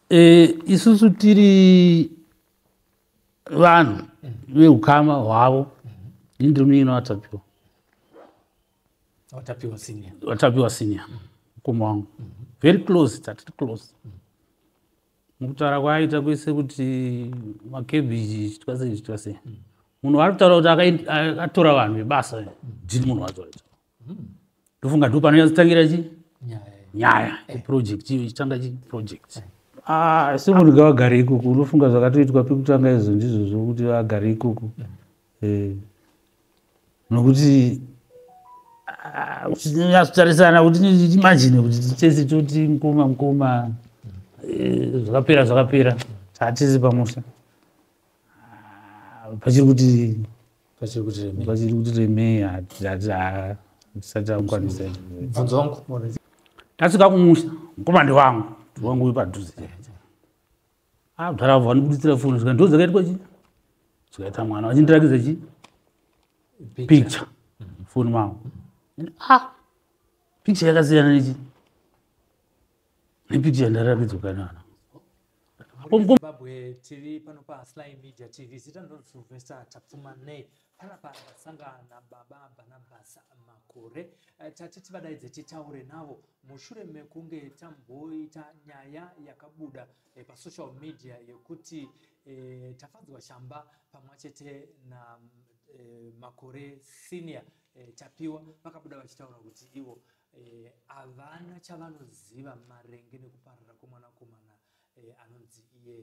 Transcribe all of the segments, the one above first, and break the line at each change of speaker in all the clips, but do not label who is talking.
e, isusu tiri vanhu veukama hwavo ini ndiri munyina watapiwa watapiwa senior watapiwa senior mukoma wangu very close tatiri close mukutaura kwaaita kwese kuti makebhiji chitwa sei chitwa sei munhu ari kutaura kuti atora vanhu vebasa ndini munhu wazoita hmm. ndofunga ndo panonyazotangira chi nyaya project iyo ichitanga chi project eh. ah, asi munhu gavagare ikuku unofunga zvakatoitwa pekutanga izvo ndizvo zvokuti agare ikuku hmm. eh. nokuti ah, uchinyatsotarisana kuti imajine kuti tese toti mukoma mukoma eh, zvakapera zvakapera hatisi pamusha ah, pachiri kuti vachiri kuti remei vachiri kuti remei hatizati hatisati akukwanisa bvunzo wangu
tasvika
kumusha mukomandi wangu wangu uyu padhuze abdara vanibuditsira foni zvika ndo dzakaitwa chi zvikaita mwana vachindirakidza chi picture foni mangu ah picture yakasiyana nechi Repeat yandaratidzwa kanana. Zimbabwe
tiri pano pa Sly Media TV zita ndiro Sylvester Tapfuma ne panapa ndasangana na baba Barnabas Makore eh, tati tivadaidze titaure navo mushure mekunge tamboita nyaya yakabuda eh, pa social media yekuti eh, Tafadzwa Shamba pamwe chete na eh, Makore senior eh, Tapiwa vakabuda vachitaura kuti ivo Eh, havana chavanoziva maringe nekuparara kwemwanakomana eh, anonzi iye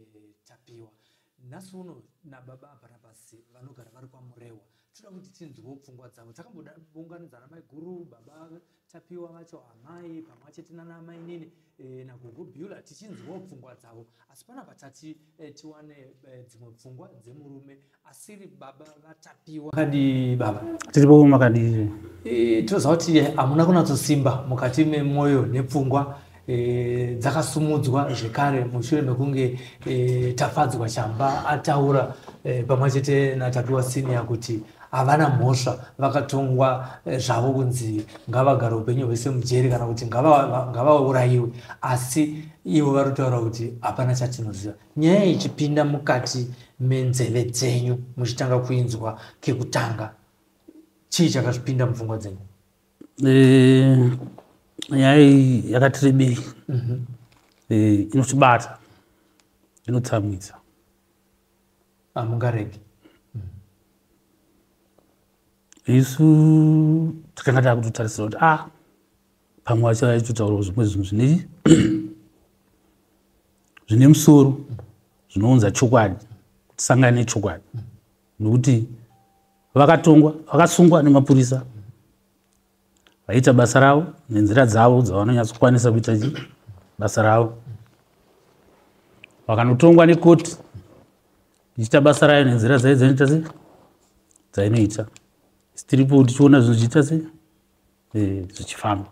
tapiwa nhasi uno nababa abarabasi vanogara vari kwamurewa toda kuti tinzwewo pfungwa dzavo takambounganidzana maiguru baba tapiwa vacho amai pamwe achete nana amainini eh, nagogo biula tichinzwewo pfungwa dzavo asi panapa tati tiwane dzimwe pfungwa dzemurume asiri baba vatapiwa kadi baba tiri bomo makadii
e, tinoziva kuti
hamuna kunatsosimba mukati memwoyo nepfungwa e, dzakasumudzwa zvekare mushure mekunge e, tafadzwa chamba ataura e, pamwe chete natapiwa senior kuti havana mhosva vakatongwa e, zvavo kunzi ngavagara upenyu hwese mujeri kana kuti ngavaurayiwe asi ivo vari kutaura kuti hapana chatinoziva nyaya ichipinda mukati menzeve dzenyu muchitanga kuinzwa kekutanga chii chakazvipinda mupfungwa dzenyu eh,
nyaya iyi yakati rebei mhm. eh, inotibata inotsamwisa
hamungaregi
ah, mhm. isu takanga takutotarisira kuti a ah, pamwe achaitotaura zvimwe zvinhu zvine zvine musoro zvinounza chokwadi kuti sangane nechokwadi nokuti vakatongwa vakasungwa nemapurisa vaita basa ravo nenzira dzavo dzavanonyatsokwanisa kuita chi basa ravo vakanotongwa nekoti ichiita basa rayo nenzira dzaidzainoita se dzainoita sitiripo tichiona zvinhu zvichiita sei eh, zvichifamba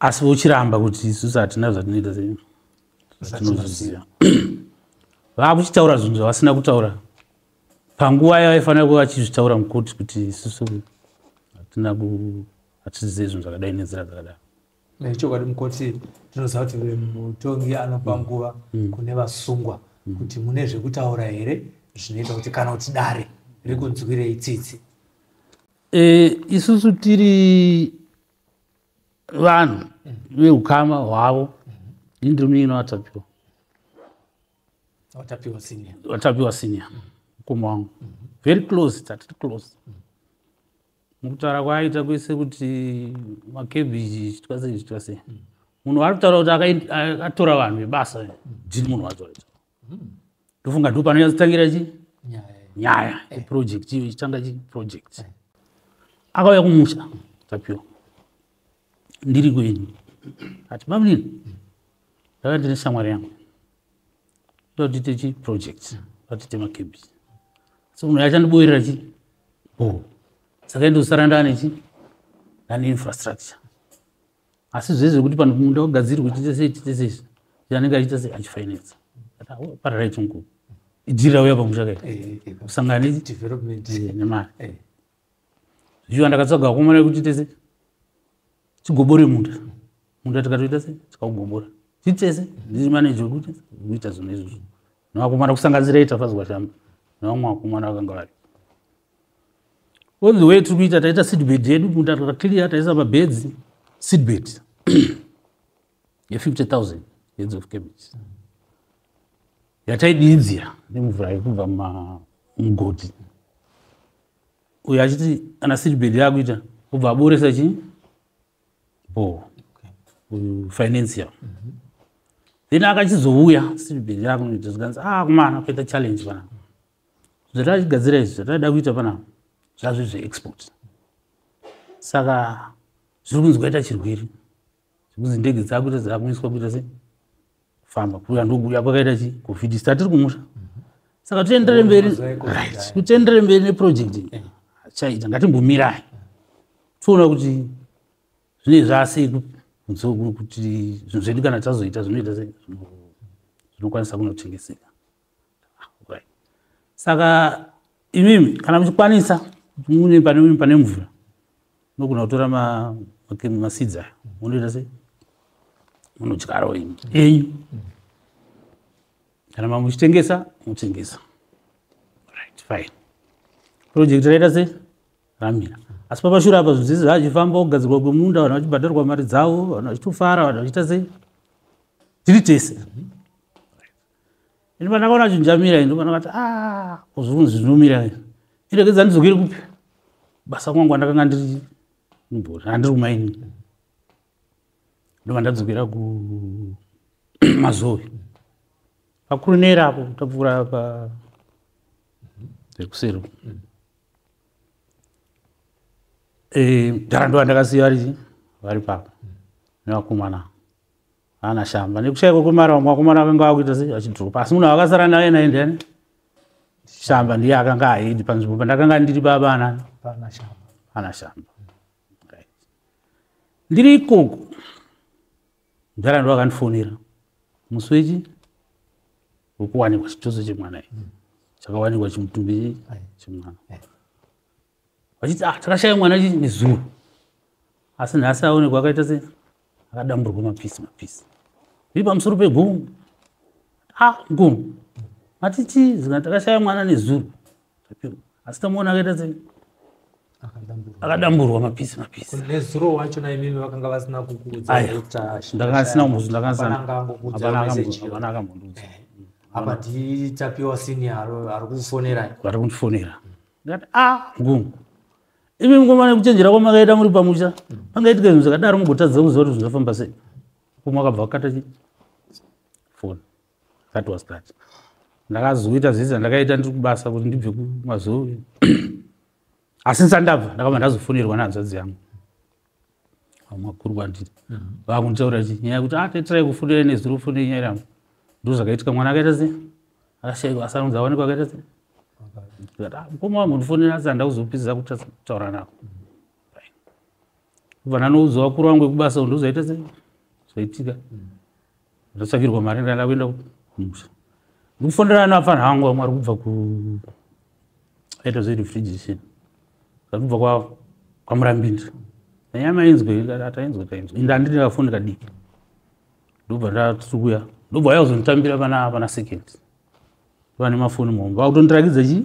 asi vochiramba kuti isusu hatina zvatinoita zvatinozviziva vakuchitaura zvinhu zvavasina kutaura panguva yavaifanira kuva vachizvitaura mukoti kuti isusu hatina hatizive zvinhu zvakadai nenzira dzakadaro nechokwadi
mukoti tinoziva kuti mutongi anopa mm. nguva mm. kune vasungwa mm. kuti mune zvekutaura here zvinoita kuti kana kuti dare rikunzwirei tsitsi e, isusu
tiri vanhu veukama hwavo ini ndiri munyina watapiwa watapiwa senior watapiwa senior mukoma wangu very close tatiri close mukutaura kwaaita kwese kuti makebhiji chitwa sei chitwa sei munhu ari kutaura kuti akatora vanhu vebasa jini munhu wacho aita hmm. ndofunga ndo panonyazotangira chi nyaya eh. project iyo ichitanga chi project eh. akauya kumusha tapiwa ndiri kwenyu ati bamnini ndaka ndine shamwari yangu ndotiite chi project ndotiite makebisi so munhu yachandiboerera chi bhoo saka ndosara ndane chi ndane infrastructure asi zvese zvekuti pano munda wagadzirwa uchiita sei chiita sei anenge achiita sei achifainetsa pararai chungu idzirira uya pamusha kai eh, eh, eh, kusangana
nemari
zvichiva ndakatsaga vakomana vekuchiita sei chigobore munda munda tikatoita sei tikaugobora chitese ndiri maneji wekuti kuita zvinhu izvozvo nevakomana kusanganisira itafaziwa shamba nevamwe vakomana vakanga vari all the way tiri kuita taita seedbed yedu munda takaclear taisa mabeds seedbed ye50 thousand heads of cabbage yataidiidzira nemvura yekubva mugoti uyo achiti ana seedbed yaakuita obva aboresa chi bo uyu financial mhm. then akachizouya seedbed yakunoita zvikanzi ah kumana kuita challenge panapa zvatachigadzira izvi zvataida kuita panapa zvazvo zveexport saka zviri kunzi kwaita chirwere zvekunzi ndege dzakuita dzakuiswa kuita se kufamba kuya ndokuya kwakaita chi covid sta tiri kumusha saka tiendere mberi right kutiendere mberi neproject chaita ngatimbomirai toona kuti zvine zvasei kuti zvinhu zvedu kana tazoita zvinoita sei zvinokwanisa kunotengeseka saka imimi kana muchikwanisa mune pane pane mvura nogona kutora masidzi ayo munoita sei munodyarawo imi enyu kana mamwe muchitengesa motengesa right fine project raita sei ramira asi papashure apa zvinhu zvese zvachifamba kugadzirwa kwemunda vanhu vachibhadharwa mari dzavo vanhu vachitofara vanhu vachiita sei tiri tese ini pandakaona chinjamira ini pandakati a ah, kuzvunzi zvinomira iregedza ndizokiri kupi basa kwangu andakanga ndiri mbori andiri kumaini ndova ndadzokera kumazovi pakurunera apo tapfuura pa zvekuseri eh, dhara ndova ndakasiya vari vari papa nevakomana ana shamba nekushaikwa kwemari vamwe vakomana vakanga vakuita sei vachidropa asi munhu avakasara naye naye ndiani shamba ndiye akanga ahedi panzvimbo pandakanga ndiri babana ana shamba ndiri ikoko mudhara ndo akandifonera musi wechi wekuwanikwa chituso chemwana i chakawanikwa chimutumbi chemwana vachiti ah takashaya mwana chii nezuro asi nhasi aonekwa akaita se akadamburwa mapisi mapisi zviri pamusoro pegomo a ah, gomo ati chii zika takashaya mwana nezuro asi tamuona akaita se akadamburwa mapisi mapisi nezuro wacho
naimimi vakanga vasina kukuudzandakasina kumuzu
ndakaakangamboakanakambonduza apa
nditapiwa sini ari kufonera ari kundifonera
ndikati a ah, ngungu imi mkomana kuchenjera kwamakaita muri pamusha pangaitika zvinhu zvakadaro mugotadza kuziva kuti zvinofamba sei kumwe akabva akata chi foni that was that ndakazoita zvese zvandakaita ndiri kubasa kuti ndibve kumazoe asi nsandabva ndakabva ndazofonerwa nehanzvadzi yangu makuru kwandiri vakunditaura chi nyaya yekuti atetirai ah, kufundira nezuro kufundira nyaya yangu ndo zvakaitika mwana akaita se akashaikwa asanonzi awanikwa akaita se ah, mukoma wangu ndifonera asi handa kuzopedzisa kutaura nako kubva ndanoudza vakuru vangu vekubasa ndozaita se zvaitika mm. ndotsvakirwa mari ndaenda kuenda kumusha ndikufonera nafanha hangu vamwe ari kubva ku aita zverefrigition zvatibva kwa kwamurambinzi nanyama ainzwe atainzwe tainzwe inde anditi ndakafoni kadiki ndobva ndatukuya ndobva aya kuzonditambira pana pana second vane mafoni muhombe vakutondirakidza chii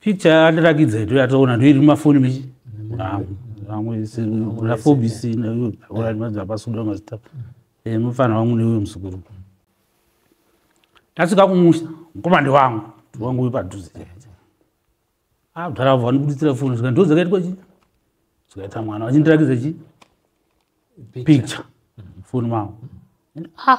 picture andirakidza ito yatoona ndoiri mumafoni mechi vamweafobisinaapasudaazita eh, mufana wangu neuyo musukuru ndasvika kumusha mukomande wangu wangu uyu padhuze abdara ah, vava ndikuditsira foni zvika ndo dzakaitwa chi zvikaita mwana vachindirakidza chi picture foni mangu ah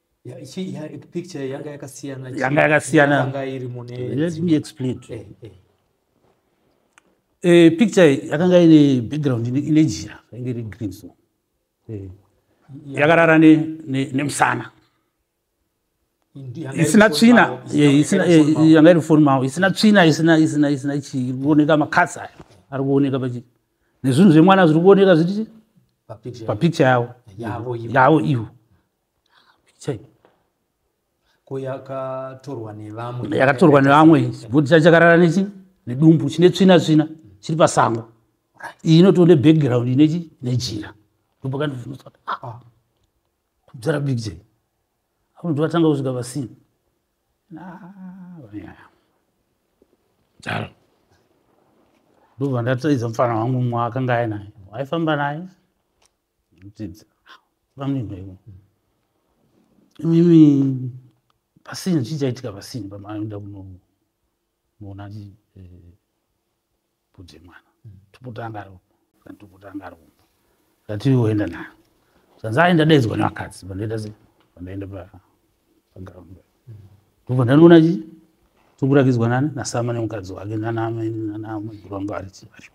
picture
yanga yakasiyana yanga yakasiyana
yanga
iri mune let me explain
to eh, eh. Eh, picture yakanga ine background ine jira inge iri green so eh. yakarara nemusana isina tsvina yanga iri foni mavo isina tsvina isina isina isina chii iri kuoneka makatsi ayo ari kuoneka pachi nezvinhu zvemwana zviri kuoneka zviti papicture yavo yavo ivo ko yakatorwa nevamwe yakatorwa nevamwe bhoti chacho chakarara nechi nedumbu chine tsvina tsvina chiri pasango iyi inotoone background inechi nejira ndopakandivhunutsa kuti aa ah, kubzara big j apo ndivatanga kusvika pasini daro ndobva ndataidza mufana wangu mwa akanga ainaye waifamba naye imimi pasini chii chaitika pasini pamaenda kunoona budze eh, mwana mm. topotanga ro kana topotanga ro ndati oenda nayo zvanzi aenda daidzwa nevakadzi pandaita se pandaenda pa ndobva ndanoona chi tokurakidzwa nani nasama nemukadzi wake nanamairangu ari chi ari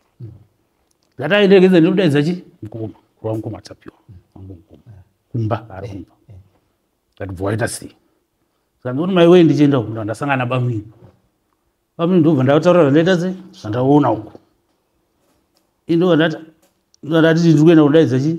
ndataendekedza ndinodaidza chi mukoma kurwa mukoma tapiwa wangu mukoma kumba ari kumba ndatibva waita sei saka ndikuti mai wee ndichienda uku ndandasangana bamwini bamwini ndobva ndataura zvandaita sei zvandaona uku indobva ndati ndiri kuenda kudaidza chii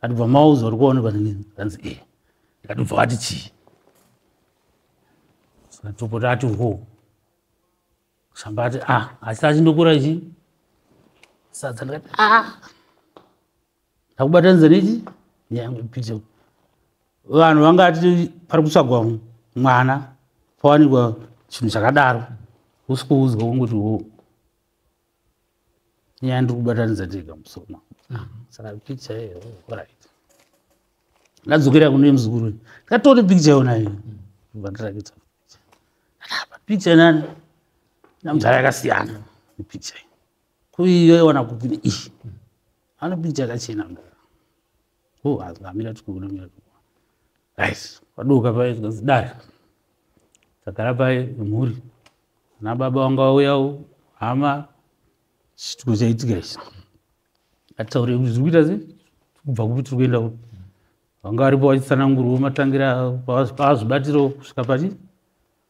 atibva mauza uri kuonekwa ndanzi e ndikatibva wati chii satopota ati ho samba ati a ah, asi achindokura ichi sadza ndikati a ah. ndakubatanidza nechi nyange pito vanhu vangati pari kutsvagwa mwana pawanikwa chinhu chakadaro usikuudzwa kungoti wo nyaya ndiri kubatanidza tega musoma saka picha iyo orit ndadzokera kune muzukuru ndikatore picha yona iyo vandirakidza picha nani namudhara yakasiyana nepicha iyo kuiyo iwana kupini iyi ano picha yakachena mdara oh hazvamira tikuona mira tikuona right waduka paye zvikanzi dare tagara paye mhuri ana baba wanga wauyawo hama chituko chaitika ichi ataure kuti zviri kuita sei kubva kupi tiri kuenda kupi vanga varipo vachitsanangurwa matangira pavazvibatiro kusvika pati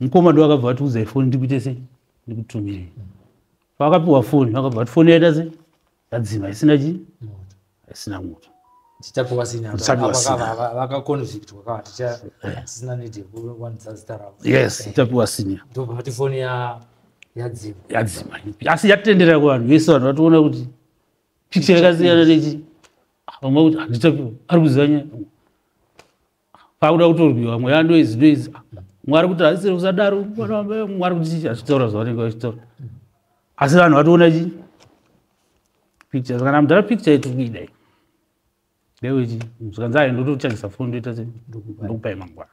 mukoma ndo akabva atiudza ifoni ndikuite sei ndikutumirei paakapiwa foni akabva ati foni yaita sei yadzima isina chii isina moto tichapiwa sinia yadzima asi yatendera kuvanhu vese vanhu vatoona kuti picha yakasiyana nechi vamwe kuti handitapiwa ari kuziva nyaya pakuda kutorwiwa mweya noizi noizi mwari kuti hazisiri kusadaro mwari kuti achitaura zvavanenge vachitaura asi vanhu vatoona chii picture saka namudhara picture iti kuidai ndewechi zvikanzi ayo ndotochajisa foni ndoita se ndokupai mangwana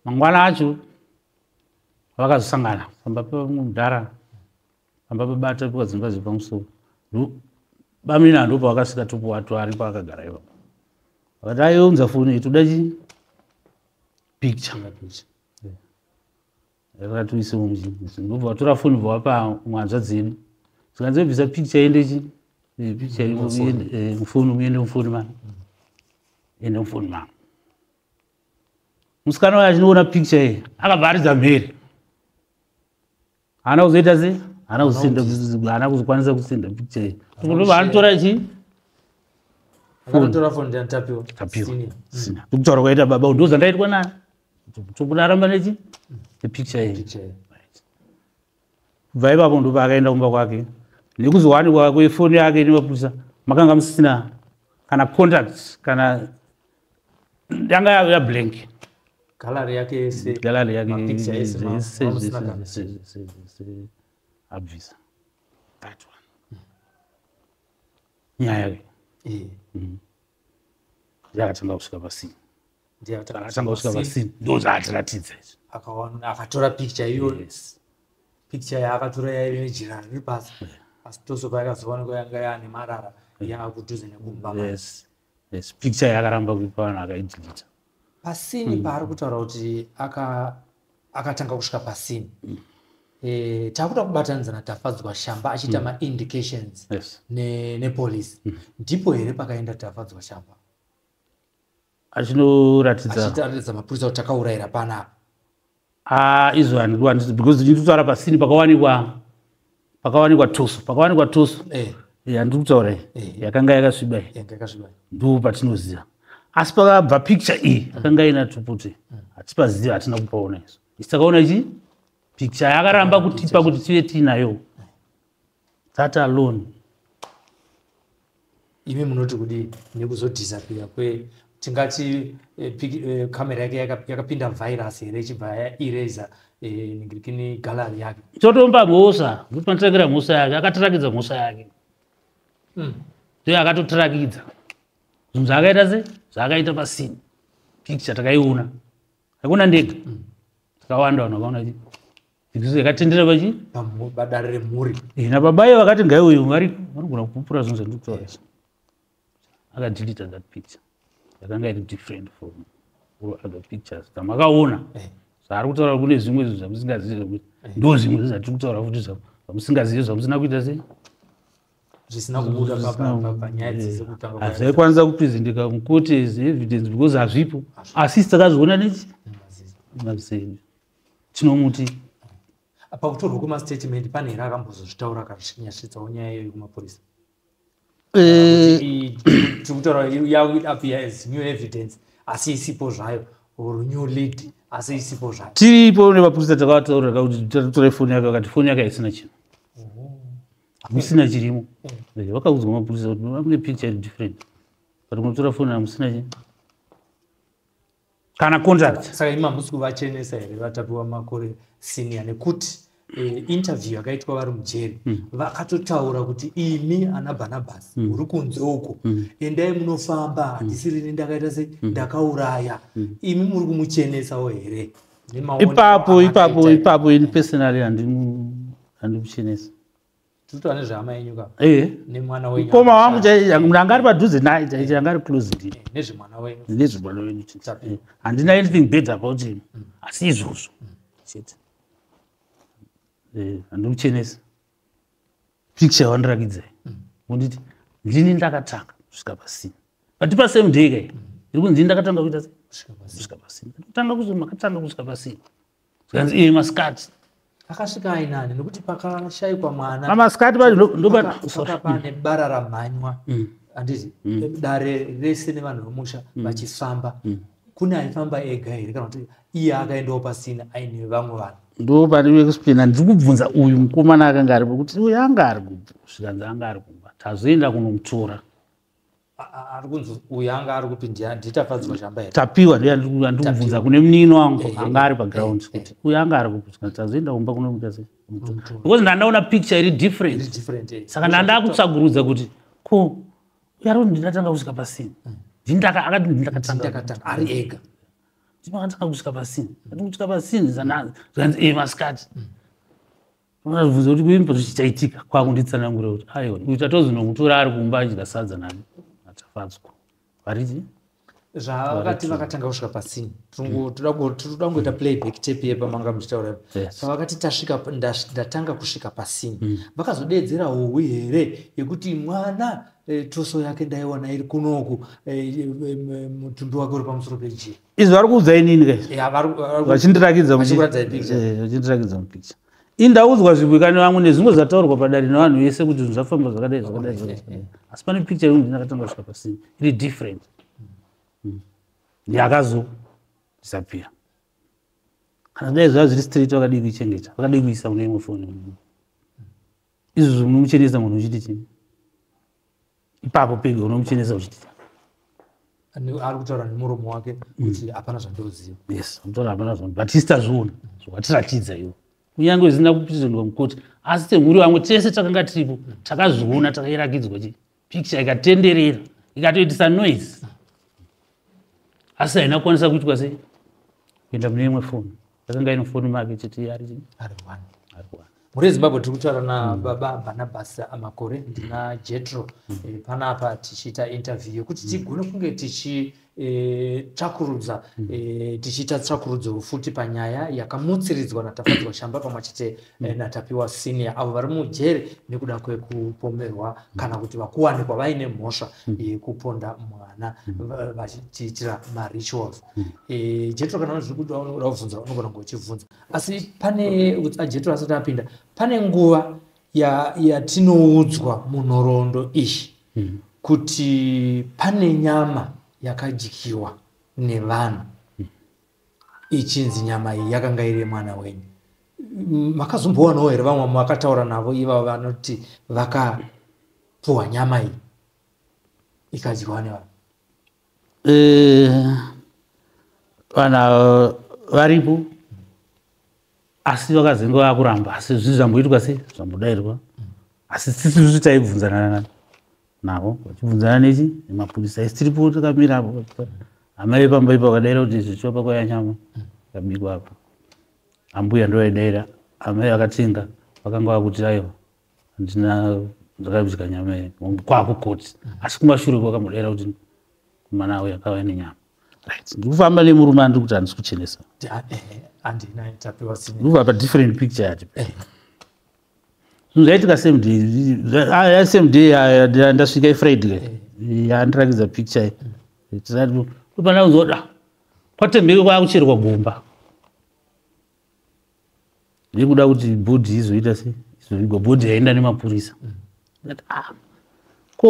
mangwana acho vakazosangana pamba pemudhara pamba pabata piwa dzimba dzepamusoro bamina ndo pavakasvika topuwa to ari paakagara iva vakati aiunza foni iyi toda chi picture ngapicha yakati uise mumuchinisi ndobva vatora foni bva wapa mwanzva dzedu zikanzi bvisa picture yende chi eh, picture eh, mufoni muende mufoni mani ende mufoni mani musikana wayo achinoona picture iyi akabva aridza mhere haana kuzoita sei haana kusinda haana kuzokwanisa kusinda picture vanotora chii
ndikutaura
kwaita baba ndo zvandaitwa nani tokunaramba nechi nepicture iyi kubva ipapo ndopa akaenda kumba kwake nekuzowanikwa kwefoni yake nemapurisa makanga musina kana contact kana yanga yave yablank gallery
yake yese gallery yake mapicture
yese abvisa that one nyaya ke eh mhm. yakatanga kusvika pasini ndiyakatanga kusvika pasini ndozvaatiratidza izvi akaona
akatora picture iyoyo yes. picture yaakatora yaive nejira riri pasi asi toso paakazoona kwayanga yaane marara yaakudhuze nekumba yes. yes
picture yakaramba kuipa vanhu akaidilita pasini mm.
paari kutaura kuti akatanga aka kusvika pasini mm. e, eh, takuda kubatanidza natafadzwa shamba achiita mm. maindications yes. nepolice ne mm. ndipo here pakaenda tafadzwa shamba
achinoratidza mapurisa kuti takaurayira
panapa Ah,
izvo handido handisi because ndiri kutaura pasini pakawanikwa pakawanikwa tusu pakawanikwa tusu eh. eh, handiri kutaura iyi eh. yakanga yakasviba iyi ndoo patinoziva asi pakabva picture iyi mm. akanga ina tuputi mm. hatipaziva hatina kupaona izvo isitakaona ichi picture yakaramba kutipa kuti tive tiinayo that alone
imi munoti kudii nekuzodhisapiya kwe tingati kamera eh, eh, yake yakapinda virus here ichibva yaereza eh, ningirikini gallery yake chotomba mhosva
kuti panotirakira mhosva yake akatirakidza mhosva yake hmm. ndoyo akatotirakidza zvinhu zvaakaita se zvaakaita pasini picture takaiona takona ndega hmm. takawanda vanhu vakaona Dzidziso yakatendera pachi? Padare remhuri.
Eh, nababaye vakati
ngai uyu vari vanogona kupupura zvinhu zvandikutaura izvi. Akadeleta that picture. Yakanga iri different from all other pictures dzamakaona. Eh. Zvaari kutaura kune zvimwe zvinhu zvamusingazivi zvekuti eh. ndo zvimwe zvinhu zvatiri kutaura futi zvamusingazivi zvamusina kuita sei?
zvisina kubuda panyaya dzese kutanga hazvaikwanisa kuprezenteka
mukote evidence because hazvipo asi takazviona nechi mazeni tinomuti
pakutorwa kwemastatement pane here akambozozvitaura akanyashitsawo nyaya iyoyo kumapurisa eh. tiri kutaura yakuidapiya as new evidence asi isipo zvayo or new lead asi isipo zvayo tiripo nemapurisa
takavataurira kuti tatore foni yake vakati foni yake haisina chinhu hamusina chirimo eh. Eh, vakaudzwa mapurisa kuti vamune picture different but munotora foni hamusina chinhu kana contract saka imi hamusi
kuvachenesa here vatapiwa makore senior nekuti eh, interview yakaitwa vari mujeri hmm. vakatotaura kuti imi ana bhanabhasi hmm. uri kunze uko hmm. endai munofamba handisirini ndakaita se ndakauraya imi muri kumuchenesawo here ipapo ipapo
ipapo ini personally handimuchenesa
tinotaura nezvehama yenyu ka eh. nemwana wenyu mukoma wangu
ndanga ari padhuze naye chaicho yanga ari close ndi eh, nezvemwana wenyu
nezvemwana wenyu eh,
handina anything bad about him mm. asi izvozvo mm. chete handimuchenesi picture yawandirakidza mm. unditi ndini ndakatanga kusvika pasina but pasame day kai iri kunzi ndakatanga kuita kusvika pasina ndakutanga kuzo makatanga kusvika pasina zvikanzi iye masikati akasvika
ainani nekuti pakashaikwa mwana pamasikati
pane
bara ramhanywa mm. andizi mm. dare rese nevanhu vemusha mm. vachifamba kune aifamba ega here kana kuti iye akaendawo pasina aine vamwe vanhu ndo padiwe kuspina
ndiri kubvunza uyu mukomana akanga ari kuti uyu anga ari kubvu zvikanzi anga ari kumba tazoenda kunomutora
ari kunzi uyu anga ari kupi nditafadzwa mm. chamba here tapiwa
ndikubvunza kune munini wangu eh, eh, anga ari eh, paground kuti uyu anga ari kupuswa tazoenda kumba kunomuita sei because ndandaona picture iri different saka ndandakutsvagurudza kuti ko uyu ari kuti ndindatanga kusvika pasini mm. ndindaka akati ndindakatanga ari ega
ndimakatanga
kusvika pasini ati kusvika pasini zvikanzi e masikati mm. Unazvibvunza kuti kuimba zvichaitika kwakunditsanangura kuti aiwa uyu tatozonomutora ari kumba achidya sadza nani atafadzwa variti
zvavakati vakatanga kusvika pasini toda kungoita playback tape ye pamanga muchitaura pavakati tasvika ndatanga kusvika pasini mm. vakazodeedzera hohwi here yekuti mwana eh, toso yake ndaiwana iri kunoku eh, eh, mutumbi wake uri pamusoro pejii izvi vari kuudza inini
guys Yeah, vari- vari- vachindirakidza mu- Vachikuratidza picha. Eh, vachindirakidza mupicha ini ndaudzwa zvibwikani vangu nezvimwe zvataurwa padare nevanhu vese kuti zvinhu zvafamba zvakadai zvakadai zvakadai, zvakadai. asi pane picha yekuti ndinakatanga kusvika pasini iri different Mm. yakazosapira kana dai zvava zviri straight vakadii kuichengeta vakadii kuisa mune imwe foni izvo zvinomuchenesa munhu uchiti chii ipapo pega unomuchenesa uchiti chii
ari kutaura nemuromo wake mm. kuti hapana zvandoziva yes anotaura hapana
zvandu but isi tazviona zvatiratidza iwo kunyange zvisina kuprezendwa mukoti asi temhuri vamwe tese takanga tiripo takazviona takayirakidzwa chii picture ikatenderera ikatoitisa noise asi haina kukwanisa kuitwa sei kuenda mune imwe foni yakanga ino foni make chiti ari
mhuri yezimbabwe tiri kutaura nababa mm. barnabas amakore ndina jetro mm. eh, panapa tichiita interview yekuti tigone kunge tichi e, tsvakurudza mm. e, tichiita tsvakurudzo futi panyaya yakamutsiridzwa natafadzwa shamba pamwe chete e, mm. natapiwa senior avo vari mujeri nekuda kwekupomerwa mm. kana kuti vakuwanikwa vaine mhosva mm. yekuponda e, mwana mm. vachiitira mm. marituals mm. e, jetro kana zviri kuti vanoda kubvunza vanogona kunge uchibvunza asi pane ajetro asati apinda pane nguva yatinoudzwa ya munhoroondo iyi mm. kuti pane nyama yakadyiwa nevanhu mm. ichinzi nyama iyi yakanga iri yemwana wenyu makazombowanawo here vamwe vakataura navo ivavo vanoti vakapuhwa nyama iyi ikadyiwa nevanhu Eh,
vana varipo asi vakazenge vakuramba asi zvi zvamboitwa sei zvambodairwa asi sisi zvi taibvunzana navo vachibvunzana nechi nemapurisa isi tiripo takamira apo amai vepamba ipo vakadaira kuti zvichopa kwaya nyama kabikwa apo ambuya ndo vaidaira amai vakatenga vakanga vakuti aiwa handina ndakaimbisika nyama iyi kwakukoti asi kumashure kwakamudera kuti mwana awo yakava nenyama ndikufamba nemurume andiri kuti handisi kuchenesa ndikuva padifferent picture yati zvaitika same day ah, same day ndasvika ifriday yandirakidza picture tati kupana kuzoda kwatemheke kwakucherwa gomba ndiri kuda kuti bhodhi izoita se izovigwa bhodhi yaenda nemapurisa ndati ah ko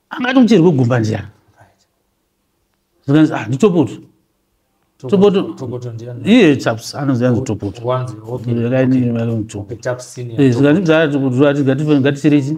angati kucherwe gumba ndiyani zvikanzi ah nditopoto topoto Tokoto ndiani? iye chaps anonzi yanzi topoto Wanzi, okay. yakainimatopoto Okay, tap senior. zvikanzi bzaa topoto ati ngatife- ngaticherechi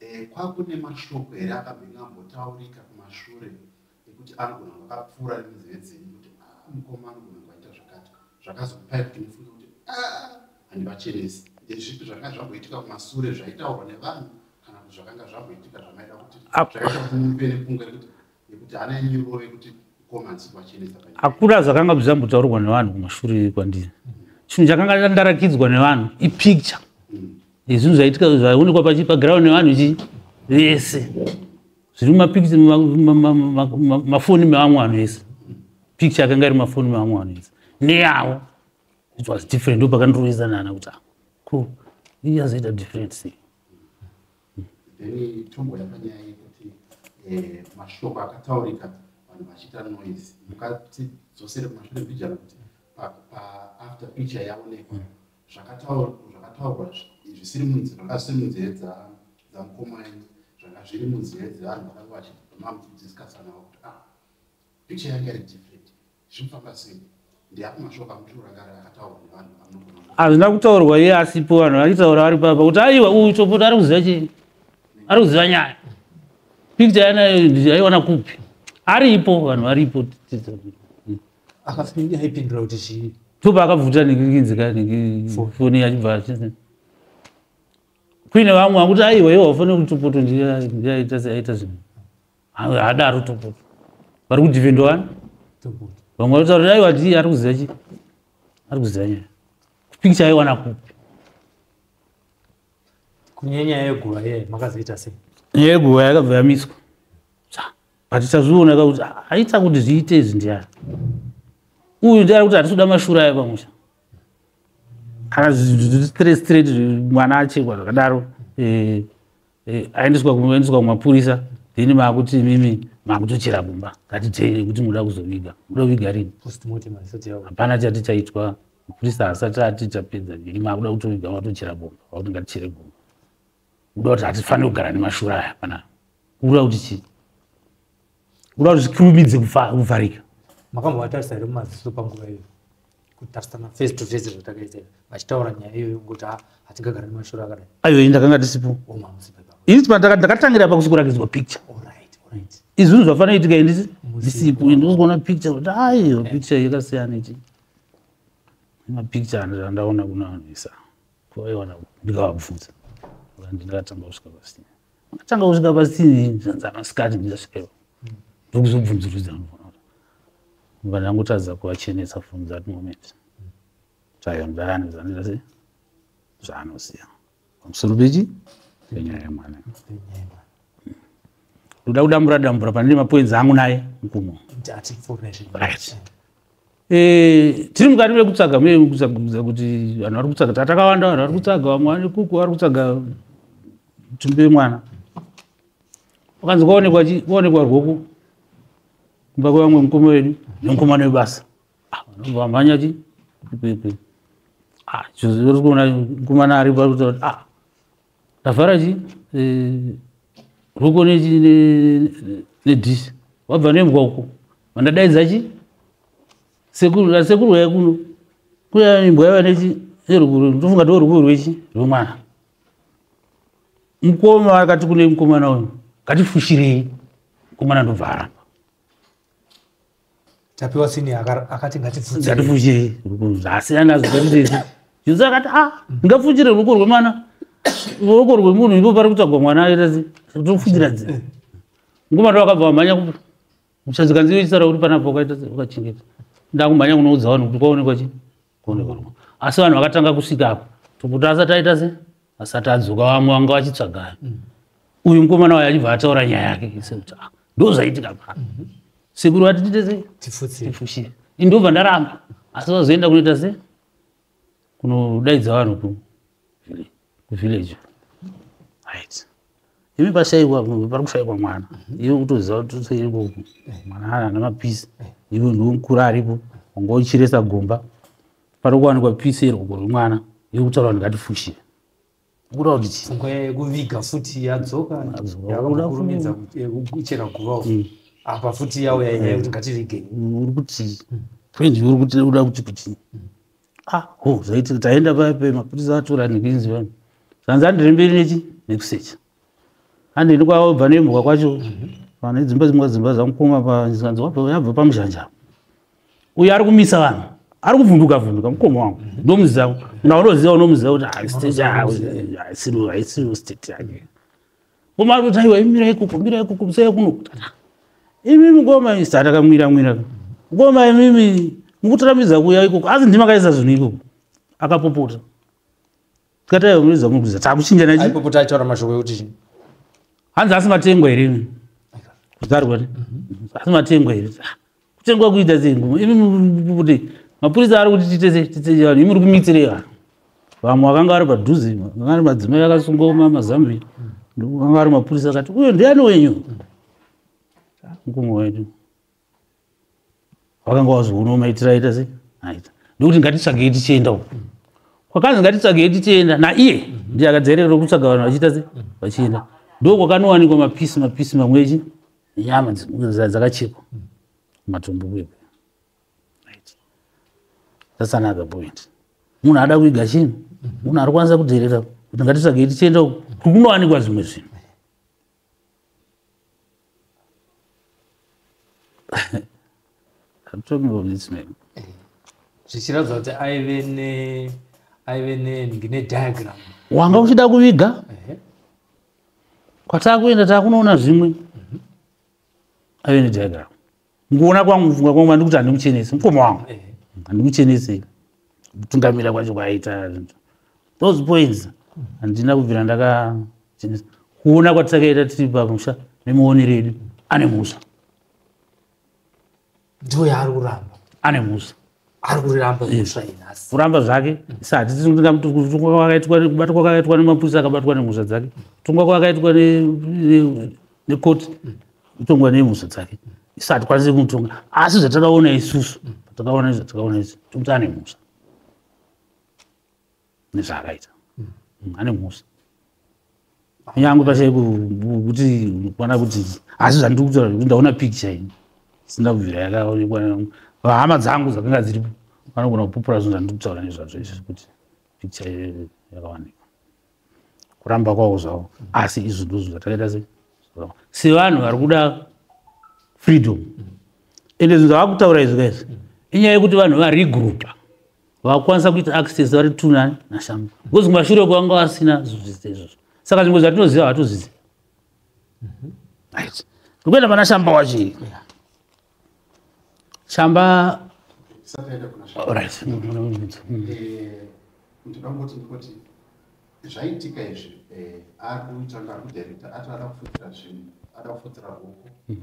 Eh,
kwakune mashoko here akambenge ambotaurika kumashure ekuti anogona kunge akapfuura nemunzeve dzenyu kuti ah, mukoma anogona kunge aita zvakati zvakazokupai kuti mufunge kuti ah, handivachenesi ndezvipi zvakanga zvamboitika kumasure zvaitaurwa nevanhu kana kuti zvakanga zvamboitika zvamaida kuti zvakaita kuti mupe nekunge rekuti nekuti hana yenyu irove kuti komanzi kwachenesa hakuna
zvakanga zvichambutaurwa nevanhu kumashure kwandiri chinhu chakanga ndarakidzwa nevanhu ipicture mm. yezvinhu zvaitika zvaionekwa paground nevanhu chii vese zviri mumapicture mafoni mevamwe vanhu vese picture yakanga iri mafoni mevamwe vanhu vese neyavo it was different ndopakandirovezanana kuti ah, cool iyazoita different sei then
tombo yapanyaya yekuti eh, mashoko akataurika vanhu vachiita noise mukatidzosere kumashure mbijana kuti paafter picture yaonekwa zvakataurwa zvisiri munzira zvanga zvisiri munzira dzamukomai zvanga zviri munzira dzevanhu vakanga vachimamudiscusanawo kuti ah picture yanga iri different Zvinofamba sei? Ndiapi mashoko amutiro rakare akataurwa nevanhu vamunogona kuona? hazvina kutaurwa iye
asipo vanhu vachitaura vari papa kuti aiwa uyu chopota ari kuziva chii ari kuziva nyaya picture yanayo ndaiona kupi aripo vanhu varipo Akafini
aipindura kuti chii? topa akabvuta
nekinzika Phone. foni yachibva achiti- kuine vamwe vakuti aiwa iwo hafane kuti chopoto ndiye ndiye aita se- aita zvinhu haadaro topoto vari kudhivhendwa vani topoto vamwe vataura dai vati ari kuziva chi ari kuziva nyaya kupikicha aiwana kupi
kunyanya yeguva ye makazoita sei nyaya yeguva yakabva
yamiswa but tazviona ka kuti haita kuti zviite izvi ndiyani uyu ndiari kuti hatisoda mashura aya pamusha kana zvistraight mwana achekwa zvakadaro eh, eh, aendeswa kuendeswa kumapurisa then maakuti mimi maakutochera kumba ngatiteere kuti muda kuzoviga muda kuviga rini hapana chati chaitwa mapurisa asati ati tapedza viri maakuda kutoviga matochera gomba vakuti ngatichere gomba kuda kuti hatifanire kugara nemashura aya pana kuda kuti chii kuda kuti zvikurumidze kuvharika makambovatarisa
here mumaziso panguva iyo kutarisana face to face zvatakaita vachitaura nyaya iyoyo ngokuti ah, hatingagara nemashoro akadai ayo ndakanga ndisipo
ini ndakatangira pa kusikurakidzwa picture izvinhu zvafanira itika indisi ndisipo ende uzoona picture kuti aiyo picture yakasiyana ichi mapicture andandaona kunoanwisa kwaiwana ndikavabvunza ndingatanga kusvika pasina akatanga kusvika pasina zvanzi amasikati ndikasvikepo ndokuzobvunzurudza mva ndangotadza kuvachenesa from that moment tayo ndayani zvandiita se zvaanoziva pamusoro pechi penyaya yemwana ndoda kudambura dambura pane mapoinzi angu naye mukumo right Eh, tiri mukati mekutsvaga mune kutsvaga kuti vanhu vari kutsaga tatakawanda vanhu vari kutsaga vamwe vane kuku vari kutsaga tumbe mwana vakanzi kwaonekwa chi kwaonekwa rwoku kumba kwevamwe mukoma wedu nemukomana webasa ah, vamhanya chi ipepe ah, zvozi vari kuona mukomana ari pakuti ah, tavhara chi eh, ruko nedhishi wabva nembwa uko vandadaidza chi sekuru asekuru waya kuno kuya imbwa yava nechi erukuru ndofunga ndo rukuru rwechi rwemwana mukoma akati kune mukomana uyu ngatifushirei mukomana ndobva aramba
tapiwa sini akati ngatifuchire
zvasiyana zvaizvezvi jesu akati a ah, ngafuchire ruoko rwemwana ruoko rwemunhu ipo pari kutsvagwa mwana aitasi tofuchira dzi eh. nguva ndo vakabva vamhanya kupi muchazikanziyo chisara uri panapo ukaita ukachengeta ndakumhanya kunoudza vanhu kuti kwaonekwa chii asi vanhu vakatanga kusvika apo tokuti asati aita se asati adzoka vamwe vanga vachitsvaga mm. uyu mukomana wayo achibva ataura nyaya yake sekuti ah, ndo zvaitika pa mhm. sekuru vati tiite se tifushire indobva ndaramba asi vazoenda kunoita se kunodaidza vanhu kuvillage right imi pashaikwa pari kushaikwa mwana mhm. iwe kutoziva kuti totoiriko mwana ana mapisi iwe ndiwe mukuru aripo wanga uchiresa gomba pari kuwanikwa pisi iri kugoro mwana iwe kutaura kuti ngatifushire ukuda kuti chii pfungwa yekuviga
futi yadzoka yakakurumidza eh, kuchera guvawo mm. apa futi yawo yainyaya kuti ngativigei mm, uri kuti
mm. friend uri kuti uda kuti kuti ah ho zvaitika taenda paya pe mapurisa vatora ndikinzi vanhu zvanzi andiri mberi nechi nekusecha andini kwavabva nemhuka kwacho pane mhm. dzimba dzimwe dzimba dzamukoma panzanzi yabva pamuzhanja uyo ari kumisa vanhu ari kuvhunduka vhunduka mukoma wangu mhm. ndomuziva naonoziva unomuziva kuti haisiri ah, ah, state yake Ngoma kuti aiwa imira ikuku mira ikuku musaya kuno. Imimi ngoma isa takamwira mwira. Ngoma imimi mukutirambidza kuya ikuku asi ndima kaisa zvinhu ikuku. Akapopota. Tikati aiwa muriza muriza takuchinja nachi. Aipopota aitaura mashoko ekuti
hanzi asi
matengwa here. Kudarwa. Mhm. Asi matengwa here. kutengwa kuita sei kuti mapurisa ari kuti tiite sei tiite vanhu imuri kumitirei vanhu vamwe vakanga vari padhuze vakanga vari madzimai akasungwa mazambia vakanga vari mapurisa akati uyo ndiani wenyu mukoma wedu vakanga vazoona maitira aita sei aita ndokuti ngatitsvagei tichienda uko kwakanzi ngatitsvagei tichienda naiye ndiye akadzerera kutsvaga vanhu vachiita sei vachienda ndo kwakanowanikwa mapisi mapisi mamwechi nyama dzakachekwa matumbu kwekwe that's another point munhu ada kuiga chinhu munhu ari kwanisa kudherera kuti ngatitsvagei tichienda uku kunowanikwa zvimwe zvinhu I'm talking about this man. zvichiratidza
kuti aive ne aive ne ndine diagram wanga uchida
kuviga kwatakuenda takunoona zvimwe ave nediagram mukuona kwangu kufunga kwangu andikuti handimuchenesi mukoma wangu eh. handimuchenesi kutungamira kwacho kwaaita those points handina kubvira ndakachenesa kuona kwatakaita tiri pamusha nemuoni redu ane musha
ndiyo yaari kuramba ane mhusva
ari kuriramba
mhusva inhasi kuramba zvake sa
hatisi tinga kutongwa kwakaitwa kubatwa kwakaitwa nemapurisa akabatwa nemhusha dzake kutongwa kwakaitwa nekoti kutongwa nemhusha dzake isa hatikwanisi kumutonga asi zvatakaona isusu patakaona izvi zvatakaona izvi tokuti ane mhusha nezvaakaita mm. ane mhosva nyangwe pachai kuti kuona kuti asi zvandiri kutaura zvekuti ndaona pikicha ini sina kubvira yakaonekwa hama dzangu dzakanga dziripo vanogona kupupura zvinhu zvandiri kutaura nezvazvo izvi kuti pikicha yakawanikwa kuramba kwavo zvavo asi izvi ndozvo zvatakaita se sevanhu vari kuda freedom ende zvinhu zvavakutaura izvi kaizvi inyaya yekuti vanhu varigroupa vakwanisa kuita access vari tuna nashambo because kumashure kwanga vasina zvidzidzo izvozvo saka zvimwe zvatinoziva hatuzizi mhm. right ndikuenda pana shamba wacho shamba right ndikangoti ndikuti
zvaitika izvi eh, ari kuita ngakudirekta ati ada kufudzira zvinhu ada kufudzira huku mm.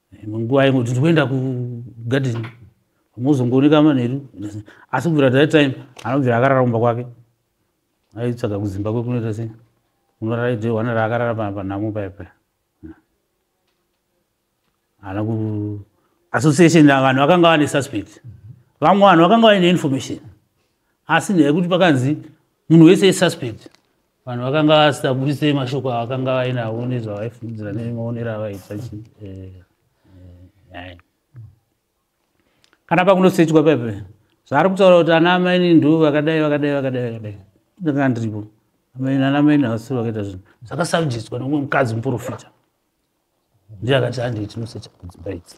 imwe nguva imwe kuti ndikuenda kugadeni mozongooneka manheru asi kubvira that time anobvira akarara kumba kwake aitsvaga kuzimbabwe kunoita sei unorara idhe wana raakarara panhamo paya paya ana ku association vanhu vakanga vane suspect vamwe vanhu vakanga vaine information asi nekuti pakanzi munhu wese isuspect vanhu vakanga vasitaburisei mashoko avakanga vainawo nezvavaifungidzira nemaonero avaita chi eh, eh, kana pakunosechwa pepe zvaari kutaura kuti ana amaini ndo vakadai vakadai vakadai vakadai ndanga ndiripo amaini ana amaini havasiri vakaita zvinhu zvakasabjiswa nomwe mukadzi muprofita ndiye akati handii tinosecha kudzimba idzi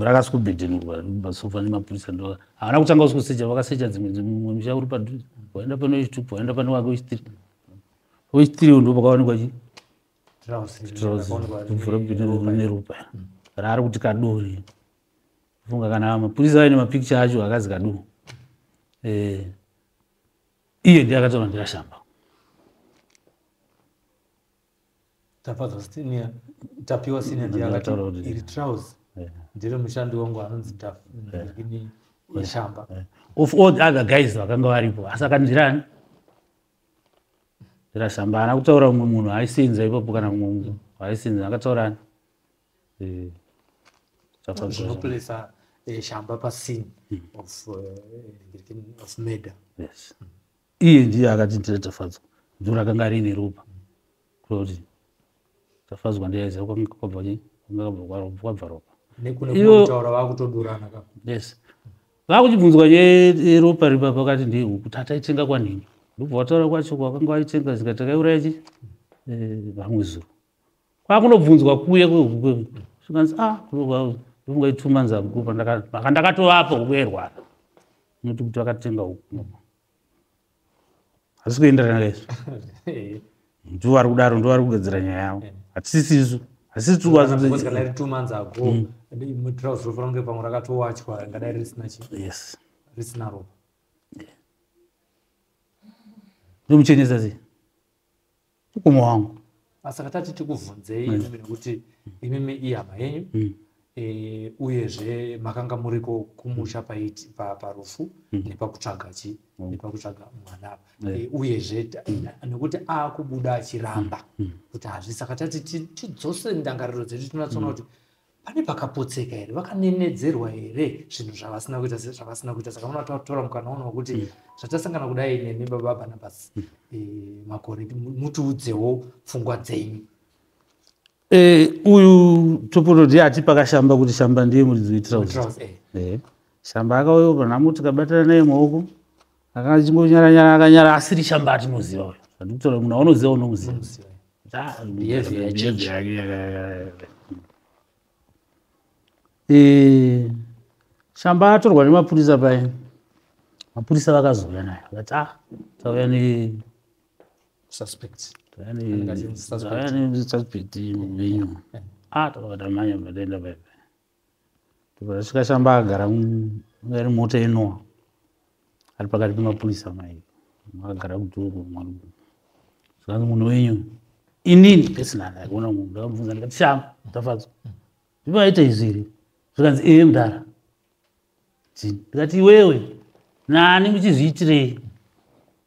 rakaswkubhedhenurwa masofa nemapurisa ndo havana kutanga uskusecha vakasecha dzimwe dzimwe misha uri padhuze waenda pane wechitup waenda pane wake wechitiri wechitiri ndo pakawanikwa chi vhura bhedhenurwa neropa raari kuti kadori funga kana mapurisa aine mapikicha acho akazi kadu eh, iye ndiye akataura ndikashamba
tapadzwa senior tapiwa senior ndiye akati iri trouse ndiri mushandi wangu anonzi ndini weshamba of all the
other guys vakanga varipo asi akandirani ndirashamba haana kutaura mumwe munhu aisinza ipapo kana mumwe munhu aisinza akataurani
eh, zvinoplesa eh, shamba pascene hmm. of eh, murder yes.
mm. iye ndiye akati ndira tafadzwa ndiro rakanga riine ropa kuti tafadzwa ndiyaiziva kwanga kwabva chii kwanga kwabva ropa
yes
vakuchibvunzwa yeropa ripa pakati ndehuku tataitenga kwanhini ndobva wataura kwacho kwakanga waitenga zika takaiuraya chi eh, vamwe zuro kwakunobvunzwa kuya kwehukuekanzi ah ndofunga itsumanza huku maka ndakatovapo huku yairwara unoti kuti vakatenga huku asi kuenderana kaizvo ndivo vari kudaro ndivo vari kugadzira nyaya yavo hatisisisu ndomuchenesa sei umwe wangu saka tati
tikubvunzei mm. nekuti imimi ihama yenyu mm. e, uyezve makanga muriko kumusha paiti parufu mm. nepakutsvaga chi mm. nepakutsvaga mwana apa yeah. e, uyezve mm. nekuti akubuda achiramba mm. kuti hazvi saka tati tidzose ndangariro dzedu tinatsoona mm. kuti mm pane pakapotseka here vakanenedzerwa here zvinhu zvavasina kuita zvavasina kuita saka vanoda tatora mukana uno wekuti hmm. zvatasangana kudai nemi baba barnabas hmm. eh, makore mutiudzewo pfungwa dzenyu eh, uyu
topototi ati pakashamba kuti shamba ndiye muridzi wetirauzi eh. shamba akauyo panamuti kabatana naye maoko akachingonyara nyara akanyara asiri chamba atinoziva uyo andikutora munhu aunoziva unomuziva eh, shamba atorwa nemapurisa paye mapurisa vakazouya naye vakati ah tauya ne suspect
tauya ne suspect
menyu ah takatamanya vatenda paipa Vasvika shamba agara ari mota inowa ari pakati pemapurisa mai agara kudhuru zvikanzi munhu wenyu inini pesinani aikuona munhu ndakabvunza ndikati shamba tafadzwa zvivaita izvi here zvikanzi ee mudhara chii ndikati iwewe nani muchizviitirei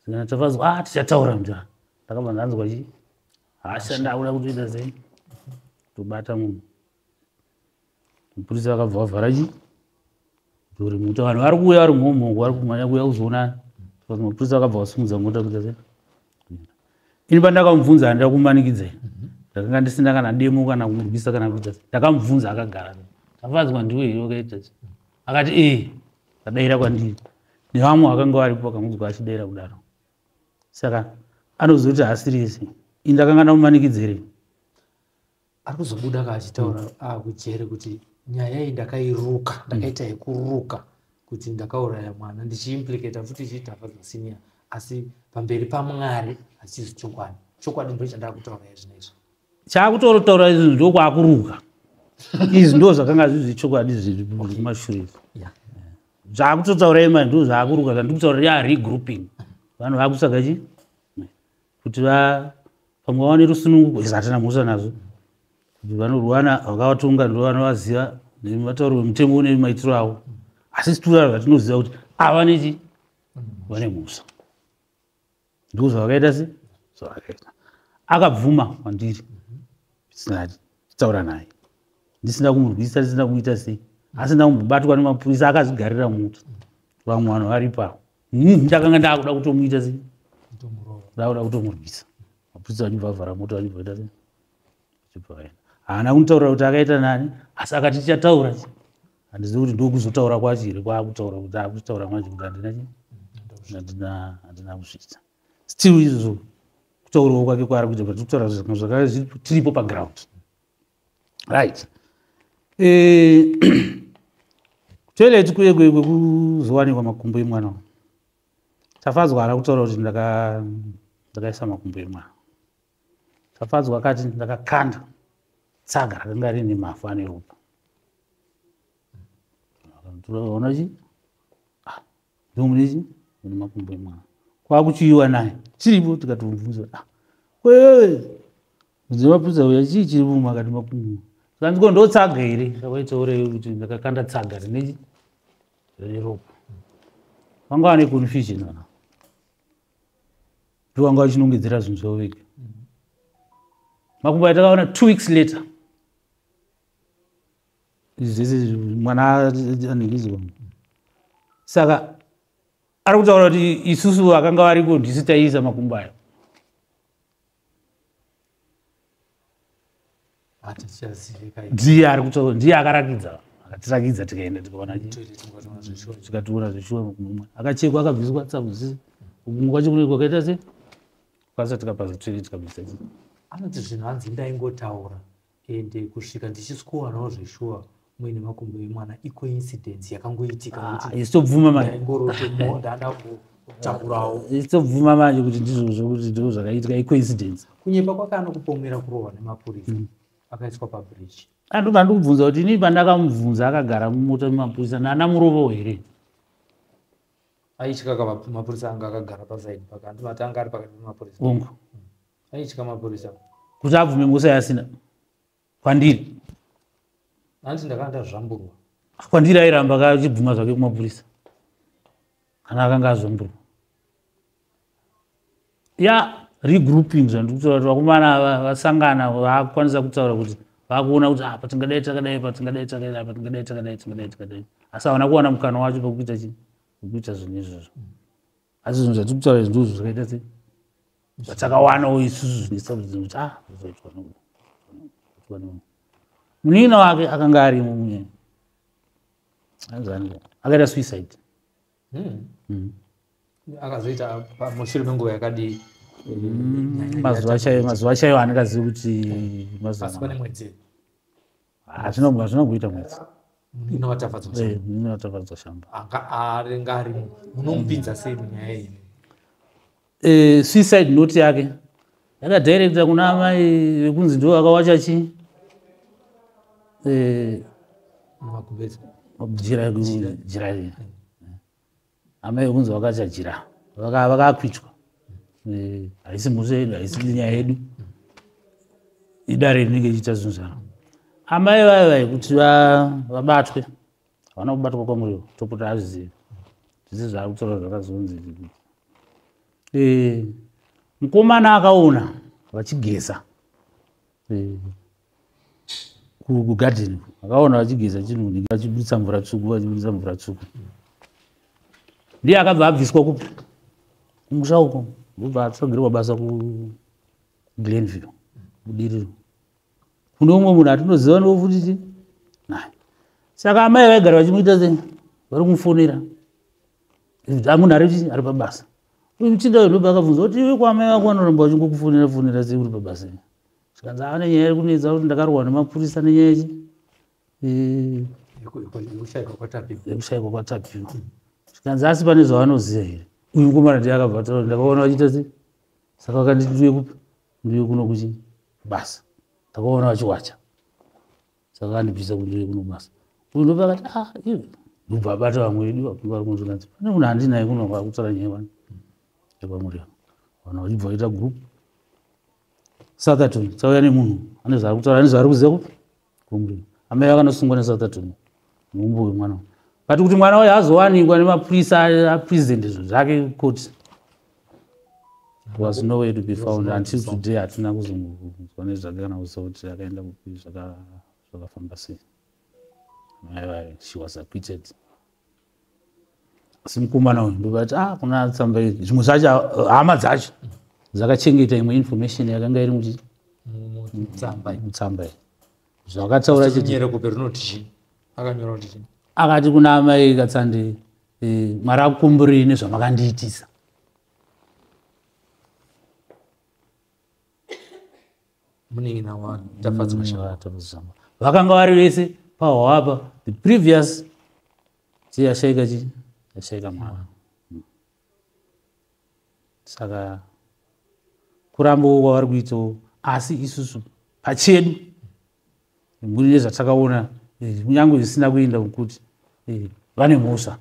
zvikana tafadzwa a ah, tichataura mudhara ndakabva ndanzwa chii hasha ndakuda kutoita sei tobata munhu mupurisa vakabva vavhara chi duri muta vanhu vari kuuya vari mhomhongo vari kumhanya kuuya kuzoonana mapurisa vakabva vasumudza mota kuita se ini pandakamubvunza handida kumanikidza ndakanga ndisina kana demo kana kumurwisa kana kuita se ndakamubvunza akagara tafadzwa ndiwe here wakaita se akati ee eh, vadaira kwandiri nevamwe vakanga varipo vakamudzwa achidaira kudaro saka anozoti hasirisi ini ndakanga ndamumanikidza here
ari kuzobuda ka achitaura mm. akujere ah, kuti nyaya iyi ndakairuka mm. ndakaita mm. yekuruka kuti ndakauraya mwana ndichiimplikata futi ichiitafa zvasinia asi pamberi pamwari hachizi chokwadi chokwadi ndo chandakutaura izvino izvo chakutorotaura
izvi ndokwakuruka izvi ndo zvakanga zvizi chokwadi zviri kumashure zvakutotaura ima ndo zvakuruka zvandikutaura rearegrouping vanhu vakusaka chii kuti pamwe vawane rusununguko izvo hatina mhosva nazvo kuti vanorwana vakavatonga ndo vanovaziva nematauro vemutengo une maitiro avo asi situra zvatinoziva kuti ava nechi vane mhosva ndiko zvavakaita se zvavakaita akabvuma kwandiri sinati taura naye ndisina kumurwisa ndisina kuita sei asi ndakumbobatwa nemapurisa akazvigarira muti vamwe vanhu varipo avo Hmm, ndakanga ndakuda kutomuita sei ndakuda kutomurwisa mapurisa vachibva avhara moto vachibvaita sei achibva vaenda haana kunitaurira kuti akaita nani asi akati tichataura chi handizivi kuti ndokuzotaura kwacho here kwaakutaura kuti akutaura manje kuti handina chi handina handina kuzviita still izvozvo kutaurawo kwake kwaari kuita but kutaura zvakanga zvakanga tiripo paground right eh, toilet kuye kwekuzowanikwa makumbo emwana tafadzwa ara kutaura kuti ndakaisa makumbo emwana tafadzwa akati ndakakanda tsaga rakanga rine mafu ane ropa ona chi ndomunezi une makumbo emwana kwakuchiyiwa naye chiripo tikatomubvunza ah, kwewe mudzi mapudza uya chii chiri vumwe akati makumbo kanziko ndotsaga here akaitaure kuti ndakakanda tsaga rine rine ropa vanga vane confusion vana ndovanga vachinongedzera zvinhu zvavo vega makumbo atakaona two weeks later izvese mwana anengiziwa saka ari kutaura kuti isusu vakanga variko ndisu taiisa makumbo ayo ndiye ari kutaura ndiye akarakidza akatirakidza tikaenda tikaona tikatoona zveshuwa makumbo akachekwa akabviswa tsabuzisi kumwe kwacho kune kwakaita se kwasa tikapasa toilet kabisa anoti zvinhu
hanzi ndaingotaura ende kusvika ndichisikuwanawo zveshuwa muine makumbo emwana icoincidence yakangoitika
isitobvuma
ah, maisitobvuma ah,
manje kuti ndizvo zvokuti ndizvo zvakaitika icoincidence kunyepa kwake
anokupomera kurohwa nemapurisa mm. akaiswa pabridge andoba ah, ndikubvunza
kuti inii pandakamubvunza akagara mumota mumapurisa nana murovo here
aityaka mapurisa anga akagara pasaidi paka andimatanga ari pakati pemapurisa ongo
aitya
mapurisa kuti abvume ngusa
yasina kwandiri
hanzi ndakanga ndazvamburwa kwandiri airamba
kachibvuma zvake kumapurisa kana akanga azvamburwa ya regrouping zvandiri kutaura kuti vakomana vasangana vakukwanisa kutaura kuti vakuona kuti apa ah, tingadai takadai pa tingadai takadai apa tingadai takadai tingadai takadai asi havana kuwana mukana wacho pekuita chii pekuita zvinhu izvozvo asi zvinhu zvatiri kutaura izvi ndizvo zvakaita sei zvatakawanawo isusu zvinesakuti kuti ah zvaitwa nokuda munina wake akanga arimo munyaya anzani akaita suicide hmm.
Hmm. akazoita mushure menguva yakadii hmm, mazuva chaiyo
mazuva chaiyo handikazivi kuti mazuva
Ah, zvinogona zvinokuita
mwedzi mm, inovatafadzwa
eh, shamba
aringarimo
munomupinza sei munyaya iyi eh, suicide note
yake yakadirecta kuna amai vekunzi ndivo vakawacha chii eh, jira jira amai kunzi vakachajira vakakwitwa eh, haisi mhusha yedu haisi nyaya yedu idare rinenge ichiita zvinhu zvaro amai vayo vai kuti vabatwe havana kubatwa kwamuriwo topota azvizivi zvese zvaari kutaura zvakazonzi eh, mukomana akaona vachigeza kugadheni akaona vachigeza chinhu vachibudisa mvura tsvuku vachibudisa mvura tsvuku ndiye akabva abviswa kupi kumusha uko ndobva atsogerwa basa kuglenville kudiriro kune umwe munhu atinoziva ndiwo futi ti saka amai vaigara vachimuita se vari kumufonera amunhare chii ari pabasa uchida wedobe akabvunza kuti iwe kwamai vako vanoramba vachingokufonera fonera sei uri pabasa i zvikanzi ane nyaya iri kunetsa kuti ndakarohwa nemapurisa nenyaya chi yekushaikwa kwatapi zvikanzi asi pane zvavanoziva here uyu mukomana ndiye akabva taura ndakaona vachiita sei saka vakanditi ndiuye kupi ndiuye kuno kuchi basa ndakaona vachiwacha saka vandibvisa kundiri kuno basa uyu ndopa akati a ah, iwe ndobva abata vamwe vedu vakuvari kunozvikanzi pane munhu handinaye kuno kwakutsara nyaya vana yepamuri yavo vanhu vachibva vaita group sathaton tsauya nemunhu ane zvaari kutaura ane zvaari kuziva kupi kumurima amai vakanosungwa nesathaton muumbo wemwana but kuti mwana wayo azowanikwa nemapurisa apresident zvake koti was nowhere to be found until today hatina kuzonzwa nezvake kana kuziva kuti akaenda kupi zvakafamba sei mai vaye she was acquitted asi mukomana uyu ndovati ah kuna tsamba iri zvimwe zvacho hama dzacho dzakachengeta imwe information yakanga iri muti mutsamba iyi zvakataura chiti akati kuna amai katsandei Eh, mwari akukomborei nezvamakandiitisa munin'ina wani tafadzi mashavatafadzisama mm, vakanga vari vese pahwapa the previous chii yashaika chii yashaika mwana mm. saka kurambawo kwavari kuitawo asi isusu pachedu mune zvatakaona eh, kunyange zvisina kuenda mukuti eh, vane mhosva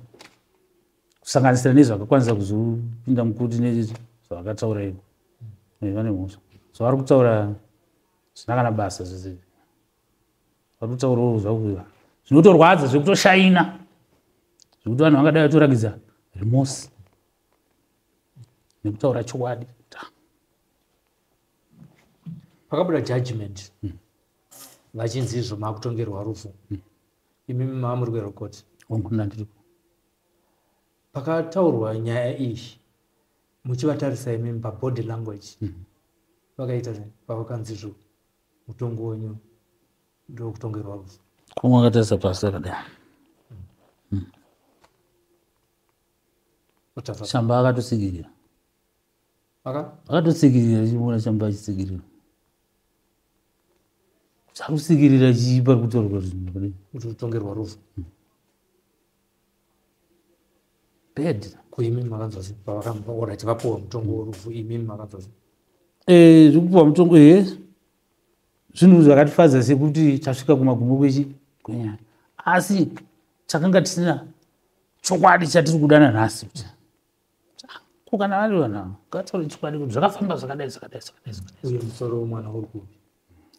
kusanganisira nezvakakwanisa kuzopinda mukuti nezvavakataura iko eh, vane mhosva so vari kutaura zvina kana basa zvese vari kutaurawo zvakuva zvinotorwadza zvekutoshaina zvekuti vanhu vangadai vatorakidza remosi nekutaura chokwadi
pakabuda judgment hmm. vachinzi izvo makutongerwa rufu hmm. imi mama muri kwerokoti pakataurwa nyaya iyi muchivatarisa imimi pabody language hmm. vakaita pavakanzi izvo mutongo wenyu ndokutongerwa rufu kumwe akatarisa
pasi akadai shamba akatosigirira akatotsikirira chiona chamba achitsikirira chakusikirira chii pari kutorwa zvinhu kudai kuti
utongerwa rufu hmm.
bad kuimimi makanzwa
sei pavakaora tivapuwa mutongo worufu imimi makanzwa sei eh,
zvekupuwa mutongo he eh, zvinhu zvakatifadza sekuti tasvika kumagumo kwechi kwenyaya asi takanga tisina chokwadi chatiri kudana nhasi kuti kana vari vanhu avo ngataure chokwadi kuti zvakafamba zvakadai zvakadai zvakadaiuye
musoro wemwana uri kupi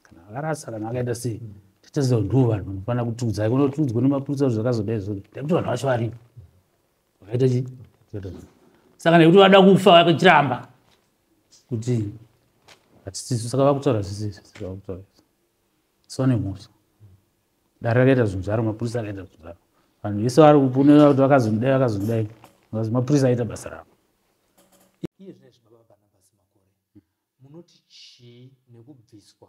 kana akarasa
kana akaita sei titeziva ndivo vanhu vanofanira kutiudzai kuno tiudzwa nemapurisa kuti zvakazodai zvo nekuti vanhu vacho varipo vakaita chii saka nekuti vada kufa vakachiramba kuti hatisisu saka vakutaura zvisisu vakutaura so nemhosva dare rakaita zvinhu zvaro mapurisa akaita zvinhu zvaro vanhu vese vari kupunira kuti vakazondidai vakazondidai bcause mapurisa aita basa ravo
munoti chii nekubviswa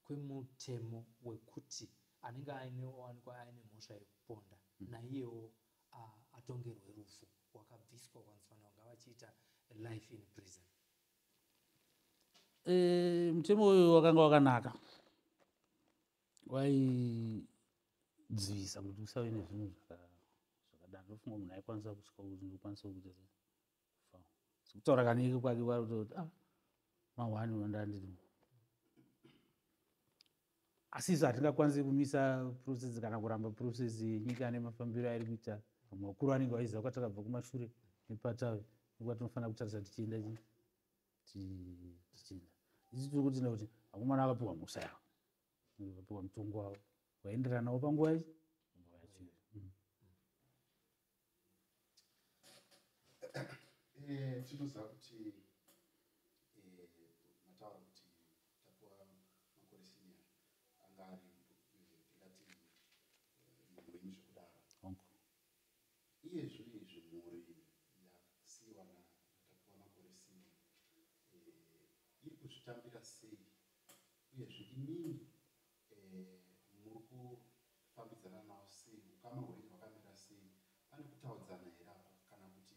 kwemutemo wekuti anenge aineowanikwa aine mhosva yekuponda hmm. naiyewo atongerwe rufu wakabviswa kwanzifanira kunge vachiita life in prison e,
mutemo uyu wakanga wakanaka waidzivisa kuti usave nezvinhu zvakadaro ndofunga munhu aikwanisa kusvika kuti ndokwanisa kuita sei kutaura kanike kwake kwari kuta kuti ah, mahwani vandandiri asi isu hatingakwanisi kumisa process kana kuramba process yenyika nemafambiro airi kuita vamwe vakuru vanenge vaiziva kwatakabva kumashure nepatave nekwa tinofanira kutarisa tichienda chii tichida isi tiri kuti nekuti akomana akapiwa musa yavo akapiwa mutongo wavo waenderanawo panguva ichi Eh,
tinoziva kuti eh, mataura kuti tapuwa makore senior anga ari eh, tingati munhu wenyu zvekudaro Iye zvino izvi mhuri yasiiwa na naTapiwa makore sina eh, iri kuzvitambira sei uyezve imimi eh, muri kufambidzana nawo sei ukama hwenyu hwakamira sei pane kutaudzana here apa kana kuti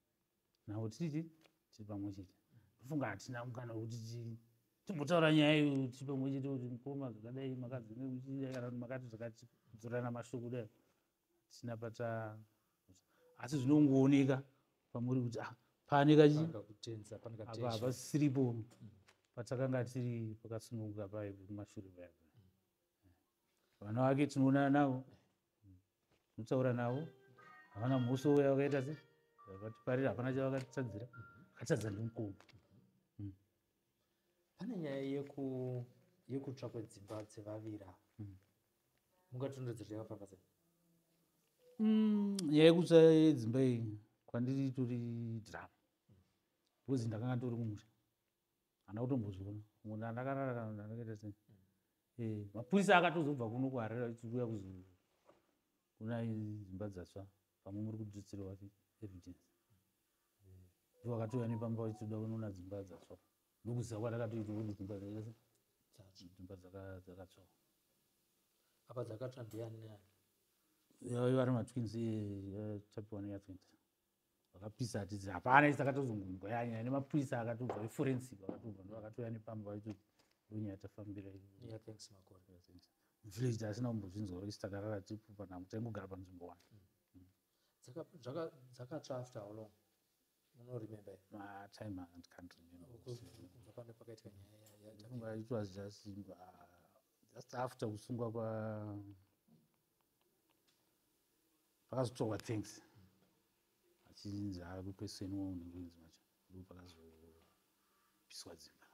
navo titi tiri pamwe chete ndofunga hatina mukana wekuti timbotaura nyaya iyo tiri pamwe chete kuti mukoma zvakadai makadzingekana kuti makati zvakatidzorana mashoko kudai hatina pata asi zvinongooneka pamuri kuti ah, pane kachihapasiripo mm. patakanga tiri pakasununguka paye kumashure paya vana vake tinoonana navo Mutaura navo havana musi uya wakaita se vakatiparira hapana chavakatitadzira vakatadza ndimukuru hmm.
pane nyaya yeku yekutsva kwedzimba dzevavira hmm. mungatondedzera yakafamba sei hmm,
nyaya yekutsva yedzimba iyi kwandiri tori drama because ndakanga tori kumusha hana kutombozviona munhu andakarara kana ndakaita sei eh, mapurisa akatozobva kuno kuharera ichiuya kuzouya kuna dzimba dzatsva pamwe muri kudzitsirwa evidence ivo vakatouya nepamba vachitoda kunoona dzimba dzatsva ndokuziva kwatakatoitawo kuti dzimba dzimba dzakatsvawa
apa dzakatsva ndiani neani yaiva
ari matwins eh, eh, chapiwa neyatwins vakapisa atizi hapana isi akatozongonzwa yanyaya nemapurisa akatobva eforensic akatobva ndo akatouya nepamba vaitoti ndonyaya tafambira muvillage taasina kumbozvinzwa isi takarara tipupa nangu taingogara panzvimbo wani mm.
dzakatsva after how long unoremember ah, time
and can't rememberbva pane pakaitika nyaya
it was just
uh, just after kusungwa kwa pakazotorwa thanks achinzi akukweseni waunekuinzi macho ndipo pakazopiswa dzimba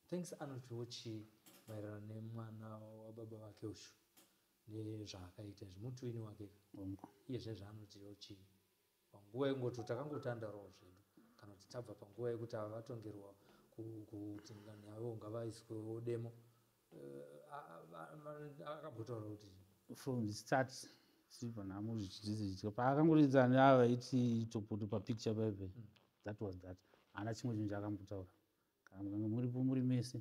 thanks
anotiwo chii maererano nemwana wababa vake ushu nezvaakaita izvi mutwini wake iye zvezvaanotiwo chii panguva yengoto takangotandaroo zvedu kana kuti tabva panguva yekuti ava vatongerwa kuti ngani yavo ngavaiswewo demo eh, akambotaura kuti from the start
silver nhamo zvichidzidza paakangoridza neava vaiti topoto papicture paive hmm. that was that haana chimwe chinhu chaakambotaura kana mukange muripo muri mese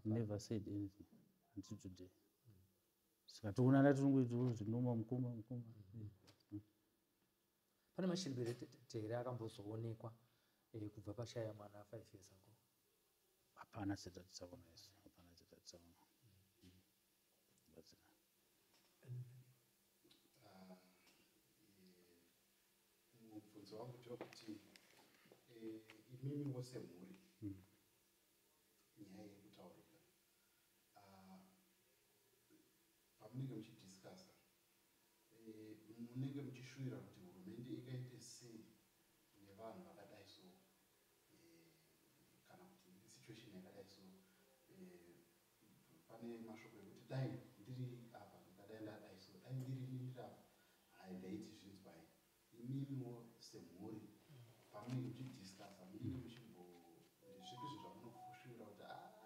never said anything until today hmm. saka toonana tirongoitoo zvinoma mukoma mukoma hmm.
pane mashiripirete here akambozoonekwa eh, kubva pashaya mwana five years ago hapana
setatisavona isu hapana setatisavona batsira ah,
eh, mubvunzo wangu ndewokuti eh, imimi wose mhuri hmm. nyaya yekutaurika ah, pamunenge muchidiscasa Eh, munenge muchishuvira kuti hurumende ingaite sei nevanhu vakadai so eh, kana kuti situation yakadai so eh, pane mashoko ekuti dai ndiri apa ndikadai ndadai so dai ndiri ini ndiri apa hai ndaiti zvinzwai imimiwo semhuri pamunenge muchidiscusa munenge muchimbo zvipi zvo zvamunofushuvira kuti a ah,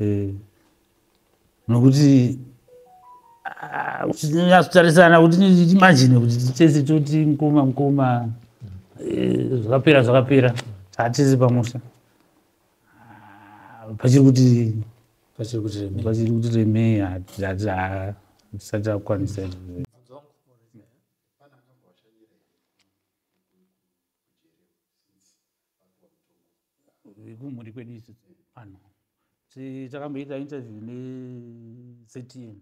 eh, nokuti nyatsotarisana kuti imagine kuti tese toti mukoma mukoma eh, zvakapera zvakapera hatisi pamusha ah, pachiri kuti pachiri kuti remei pachiri kuti remei hatisati akwanisa vekumhuri kwedu isi vanhu takamboita interview nectm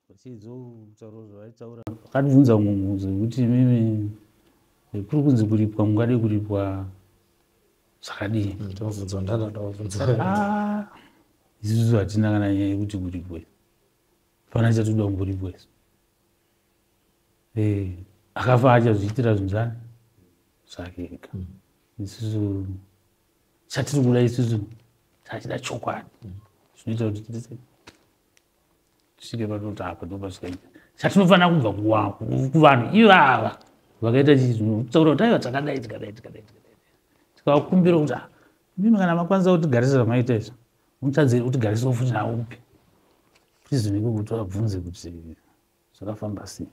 vachizotaura zvavaitaura vakatibvunza mumwe mubvunzo wekuti mimi kuri kunzi kuripwa mungade kuripwa zvakadii mm, ndobvunzwa ndadadabvunza ah, isusu hatina kana nyaya yekuti kuripwe fana chatoda kumboripwa isu eh, akafa achazviitira zvinhu zvani zvake ega mm. isusu chatiri kuda isusu tachida chokwadi mm. zvinoita kuti titise tisvike panoti apa ndopasvikaita chatinofanira kubva kuvanhu ivava vakaita chii zvinotaura kuti aiva takadai tikadai tikadai tikadai tikakumbira kuti ah, mimi kana makwanisa kutigarisa zvamaita izvo mutadze utigarisa futi nawo kupi prizoniko kuti vabvunze kuti zvakafamba sei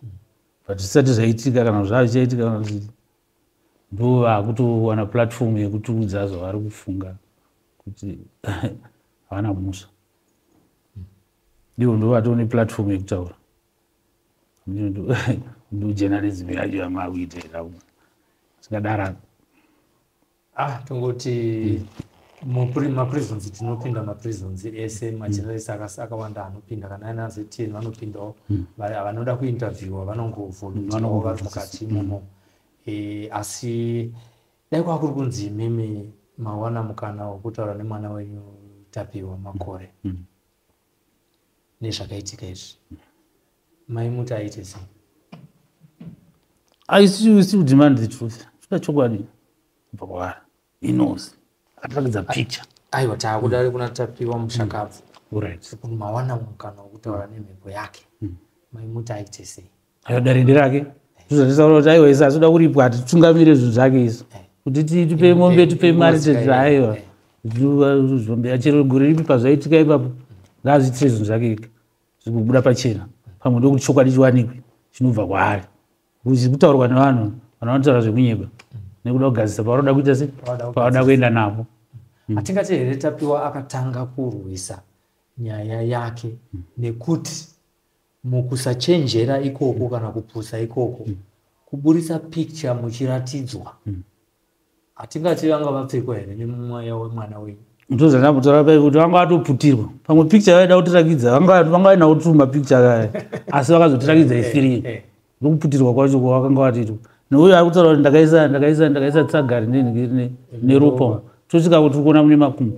but zvisati zvaitika kana zvavichaitika kana zvii ndo vakutowana platform yekutiudza zvavari kufunga kuti havana musha ndivo ndo vatoo neplatform yekutaura ndojournalism yacho yamaakuita ikauna zvingadara ah
tongoti maprisons tinopinda maprisons ese mm. majournalist akawanda anopinda kana aina ztn vanopindawo mm. vanoda kuinterviewa vanongovolunteawo mm, vari mukati imomo eh, asi dai kwava kuri kunzi imimi mawana mukana wekutaura nemwana wenyu tapiwa makore nezvakaitika izvi mai muti aite sei
i still, still demand the truth toda chokwadi kubva kwaari he knows akatirakidza picture aiwa taakudari
kuna tapiwa mushakabvu mm. right
mawana mukana
wokutaura nemhepo yake mm. mai muti aite sei ayoda rende rake
zvozvataura kuti aiwa isi asoda kuripwa ati tungamire zvinhu zvake isu kuti tipe mombe tipe mari tezvi aiwa zvombea chero gore ripi pazvaitika ipapo ngaazviitire zvinhu zvake ika zvikubuda pachena pamwe ndokuti chokwadi chiwanikwe chinobva kwaari kutaurwa nevanhu vanhu vanotaura zvekunyeba nekuda kugadzisa pavanoda kuita se pavanoda kuenda navo hmm. atingati here
tapiwa akatanga kurwisa nyaya yake nekuti mukusachenjera ikoko kana kupusa ikoko mm. kuburitsa picture muchiratidzwa mm. hatingati vanga vapfekwa here nemumweya wemwana wenyu ndozvanakutora pai
kuti vanga vatoputirwa pamwe picture vaida kutirakidza vanga vaina kutuma picture kaya asi vakazotirakidza isirii eh, eh, eh. nokuputirwa kwacho kwavakanga vatiitwa nouyo ari kutaura kuti ndakaisa ndakaisa ndakaisa tsagari neropa tosvika kuti tikuona mune makumbo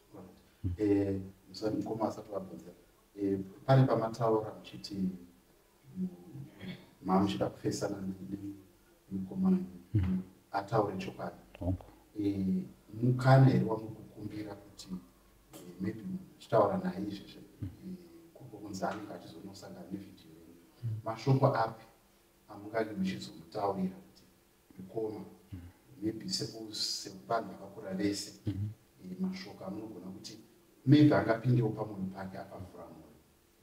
eh, musati mukoma asati vabvunza eh, pane pamataura muchiti mm, mamuchida kufesana nemukomana mm-hmm. ataure chokwadi eh, mukana here wamukukumbira kuti maybe muchitaura naye izvezve mm-hmm. kukunzi anenge achizonosangana nevideo yenyu mm-hmm. mashoko api amungani muchizomutaurira mukoma maybe sevanhu vakakura vese mhm. eh, mashoko amunogona kuti maybe angapindewo pamunhu pake apavhura mwoyo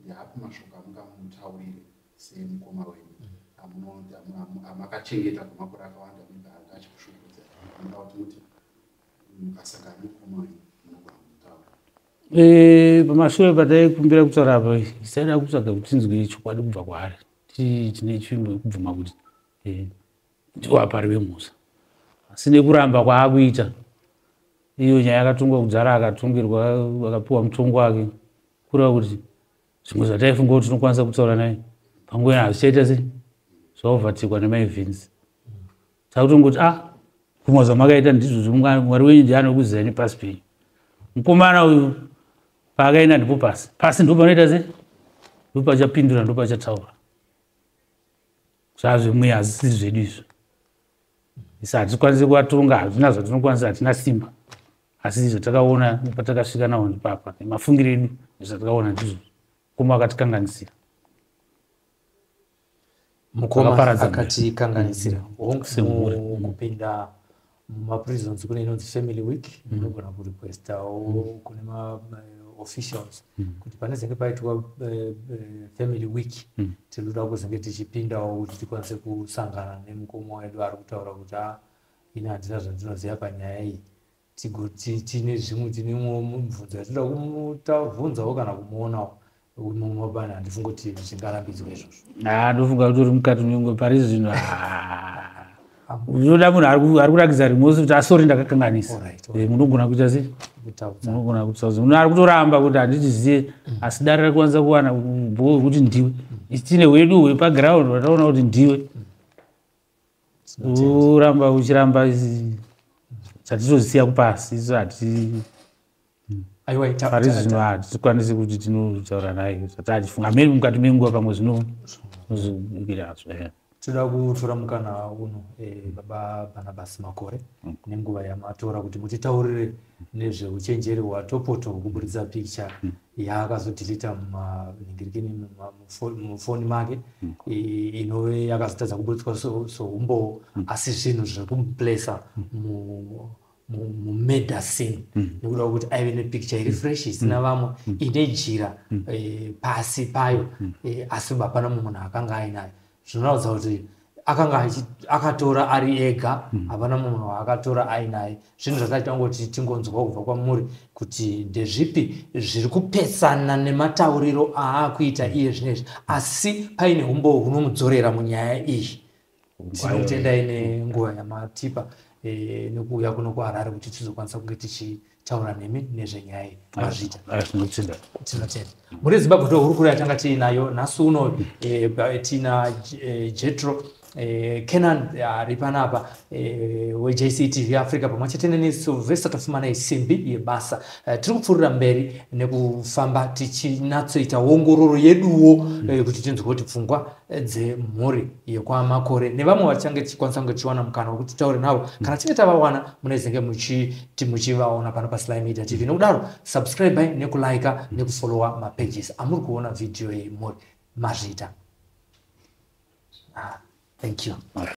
ndiapi mashoko amungamutaurire semukoma wenyu mhm. amakachengeta kwemakore akawanda maybe anga achikushukuza anoda kuti muti mukasangana mukoma wenyu munogona kumutaura eh, pamashure
pataikumbira kutaura apa isaida kutsvaga kuti tinzwe chokwadi kubva kwaari tine chimwe kubvuma kuti eh, ndiwo apari vemusa asi nekuramba kwaakuita iyo nyaya yakatongwa kudhara akatongirwa akapiwa mutongo wake kureva kuti zvimwe zvataifunga kuti tinokwanisa kutaura naye panguva ina hazvichaita sei zvaovatikwa nemaevhinsi takutongoti a ah, kumwa zvamakaita ndizvo zvimwari wenyu ndi anokuzai nepasi penyu mukomana uyu paakaenda ndipo pasi pasi ndo panoita sei ndo pachapindura ndo pachataura zvazvemweya hazisiri zvedu izvo isa hatikwanisi kuvatonga hazvina zvatinokwanisa hatina simba asi zvatakaona patakasvika nawo ndipapa nemafungiro edu zvatakaona ndizvo mukoma akatikanganisira
mukoma akatikanganisira kupinda mumaprisons kune inonzi family week mm. inogona kurequestawo mm. kune maofficials eh, mm. kuti pane zenge paitwa uh, family week tinoda kuzenge tichipindawo kuti tikwanise kusangana nemukoma wedu ari kutaura kuti a ah, ini handina zvandinoziva panyaya iyi tigoti tine zvimwe tinemwo mubvunzo yatinoda kumutavhunzawo kana kumuonawo unomobana handifunga kuti zvichingarambidzwa
izvozvo haa ndofunga kuti uri mukati nyongo pari zvino unoda munhu ari kurakidza rimosi kuti asori ah, ndakakanganisa eh, munogona kuita sei munogona kuita sei munhu ari kutoramba kuti handitiziye mm. asi dare rari kwanisa kuwana bho wekuti ndiwe mm. isine wedu wepaground vataona kuti ndiwe mm. uramba uchiramba chatitozisiya kupasi isu hati pari zvino hatikwanisi kuti tinotaura naye zati achifunga miri mukati menguva pamwe zvinozvikirazvo eh. toda
kutora mukana uno eh, baba bhanabhasi makore mm. nenguva yamatora kuti mutitaurire nezveuchenjeri hwatopoto kuburitsa picture mm. ya akazodhilita munhingirikini mufoni make mm. inove yakazotadza kuburitswa soumbowo mm. asi zvinhu zviri kumuplesa mm. mumedicine nekuda kwekuti aive nepicture iri fresh isina vamwe ine jira eh, pasi payo eh, asi hapana mumwe munhu akanga ainayo zvinoratidza kuti akanga akatora ari ega hmm. hapana mm. munhu waakatora ainaye zvinhu zvataita kungoti tingonzwa kubva kwamuri kuti ndezvipi zviri kupesana nematauriro aakuita hmm. iye zvinezvi asi paine umbo hunomudzorera munyaya iyi tinokutendai nenguva yamatipa e, nekuuya kuno kuharare kuti tizokwanisa kunge tichii taura nemi nezvenyaya iyi mazvita tinotenda tinotenda mune zimbabwe ndo hurukuro yatanga tiinayo nhasi uno eh, eh, tina eh, jetro canan ari panapa wejctv africa pamwe chete neni silvester tafumana isimbi yebasa tiri kupfuurira mberi nekufamba tichinatsoita ongororo yeduwo mm. kuti tinzwe kuti pfungwa dzemhuri yekwamakore nevamwe vachange tichikwanisa kunge tichiwana mukana wekuti taure navo mm. kana tinge tavawana munezenge muchiti muchivaona pano pasly media tv nokudaro subscribe nekulike mm. nekufollowa mapages amuri kuona vhidhiyo iyi muri mazvita ah, thank you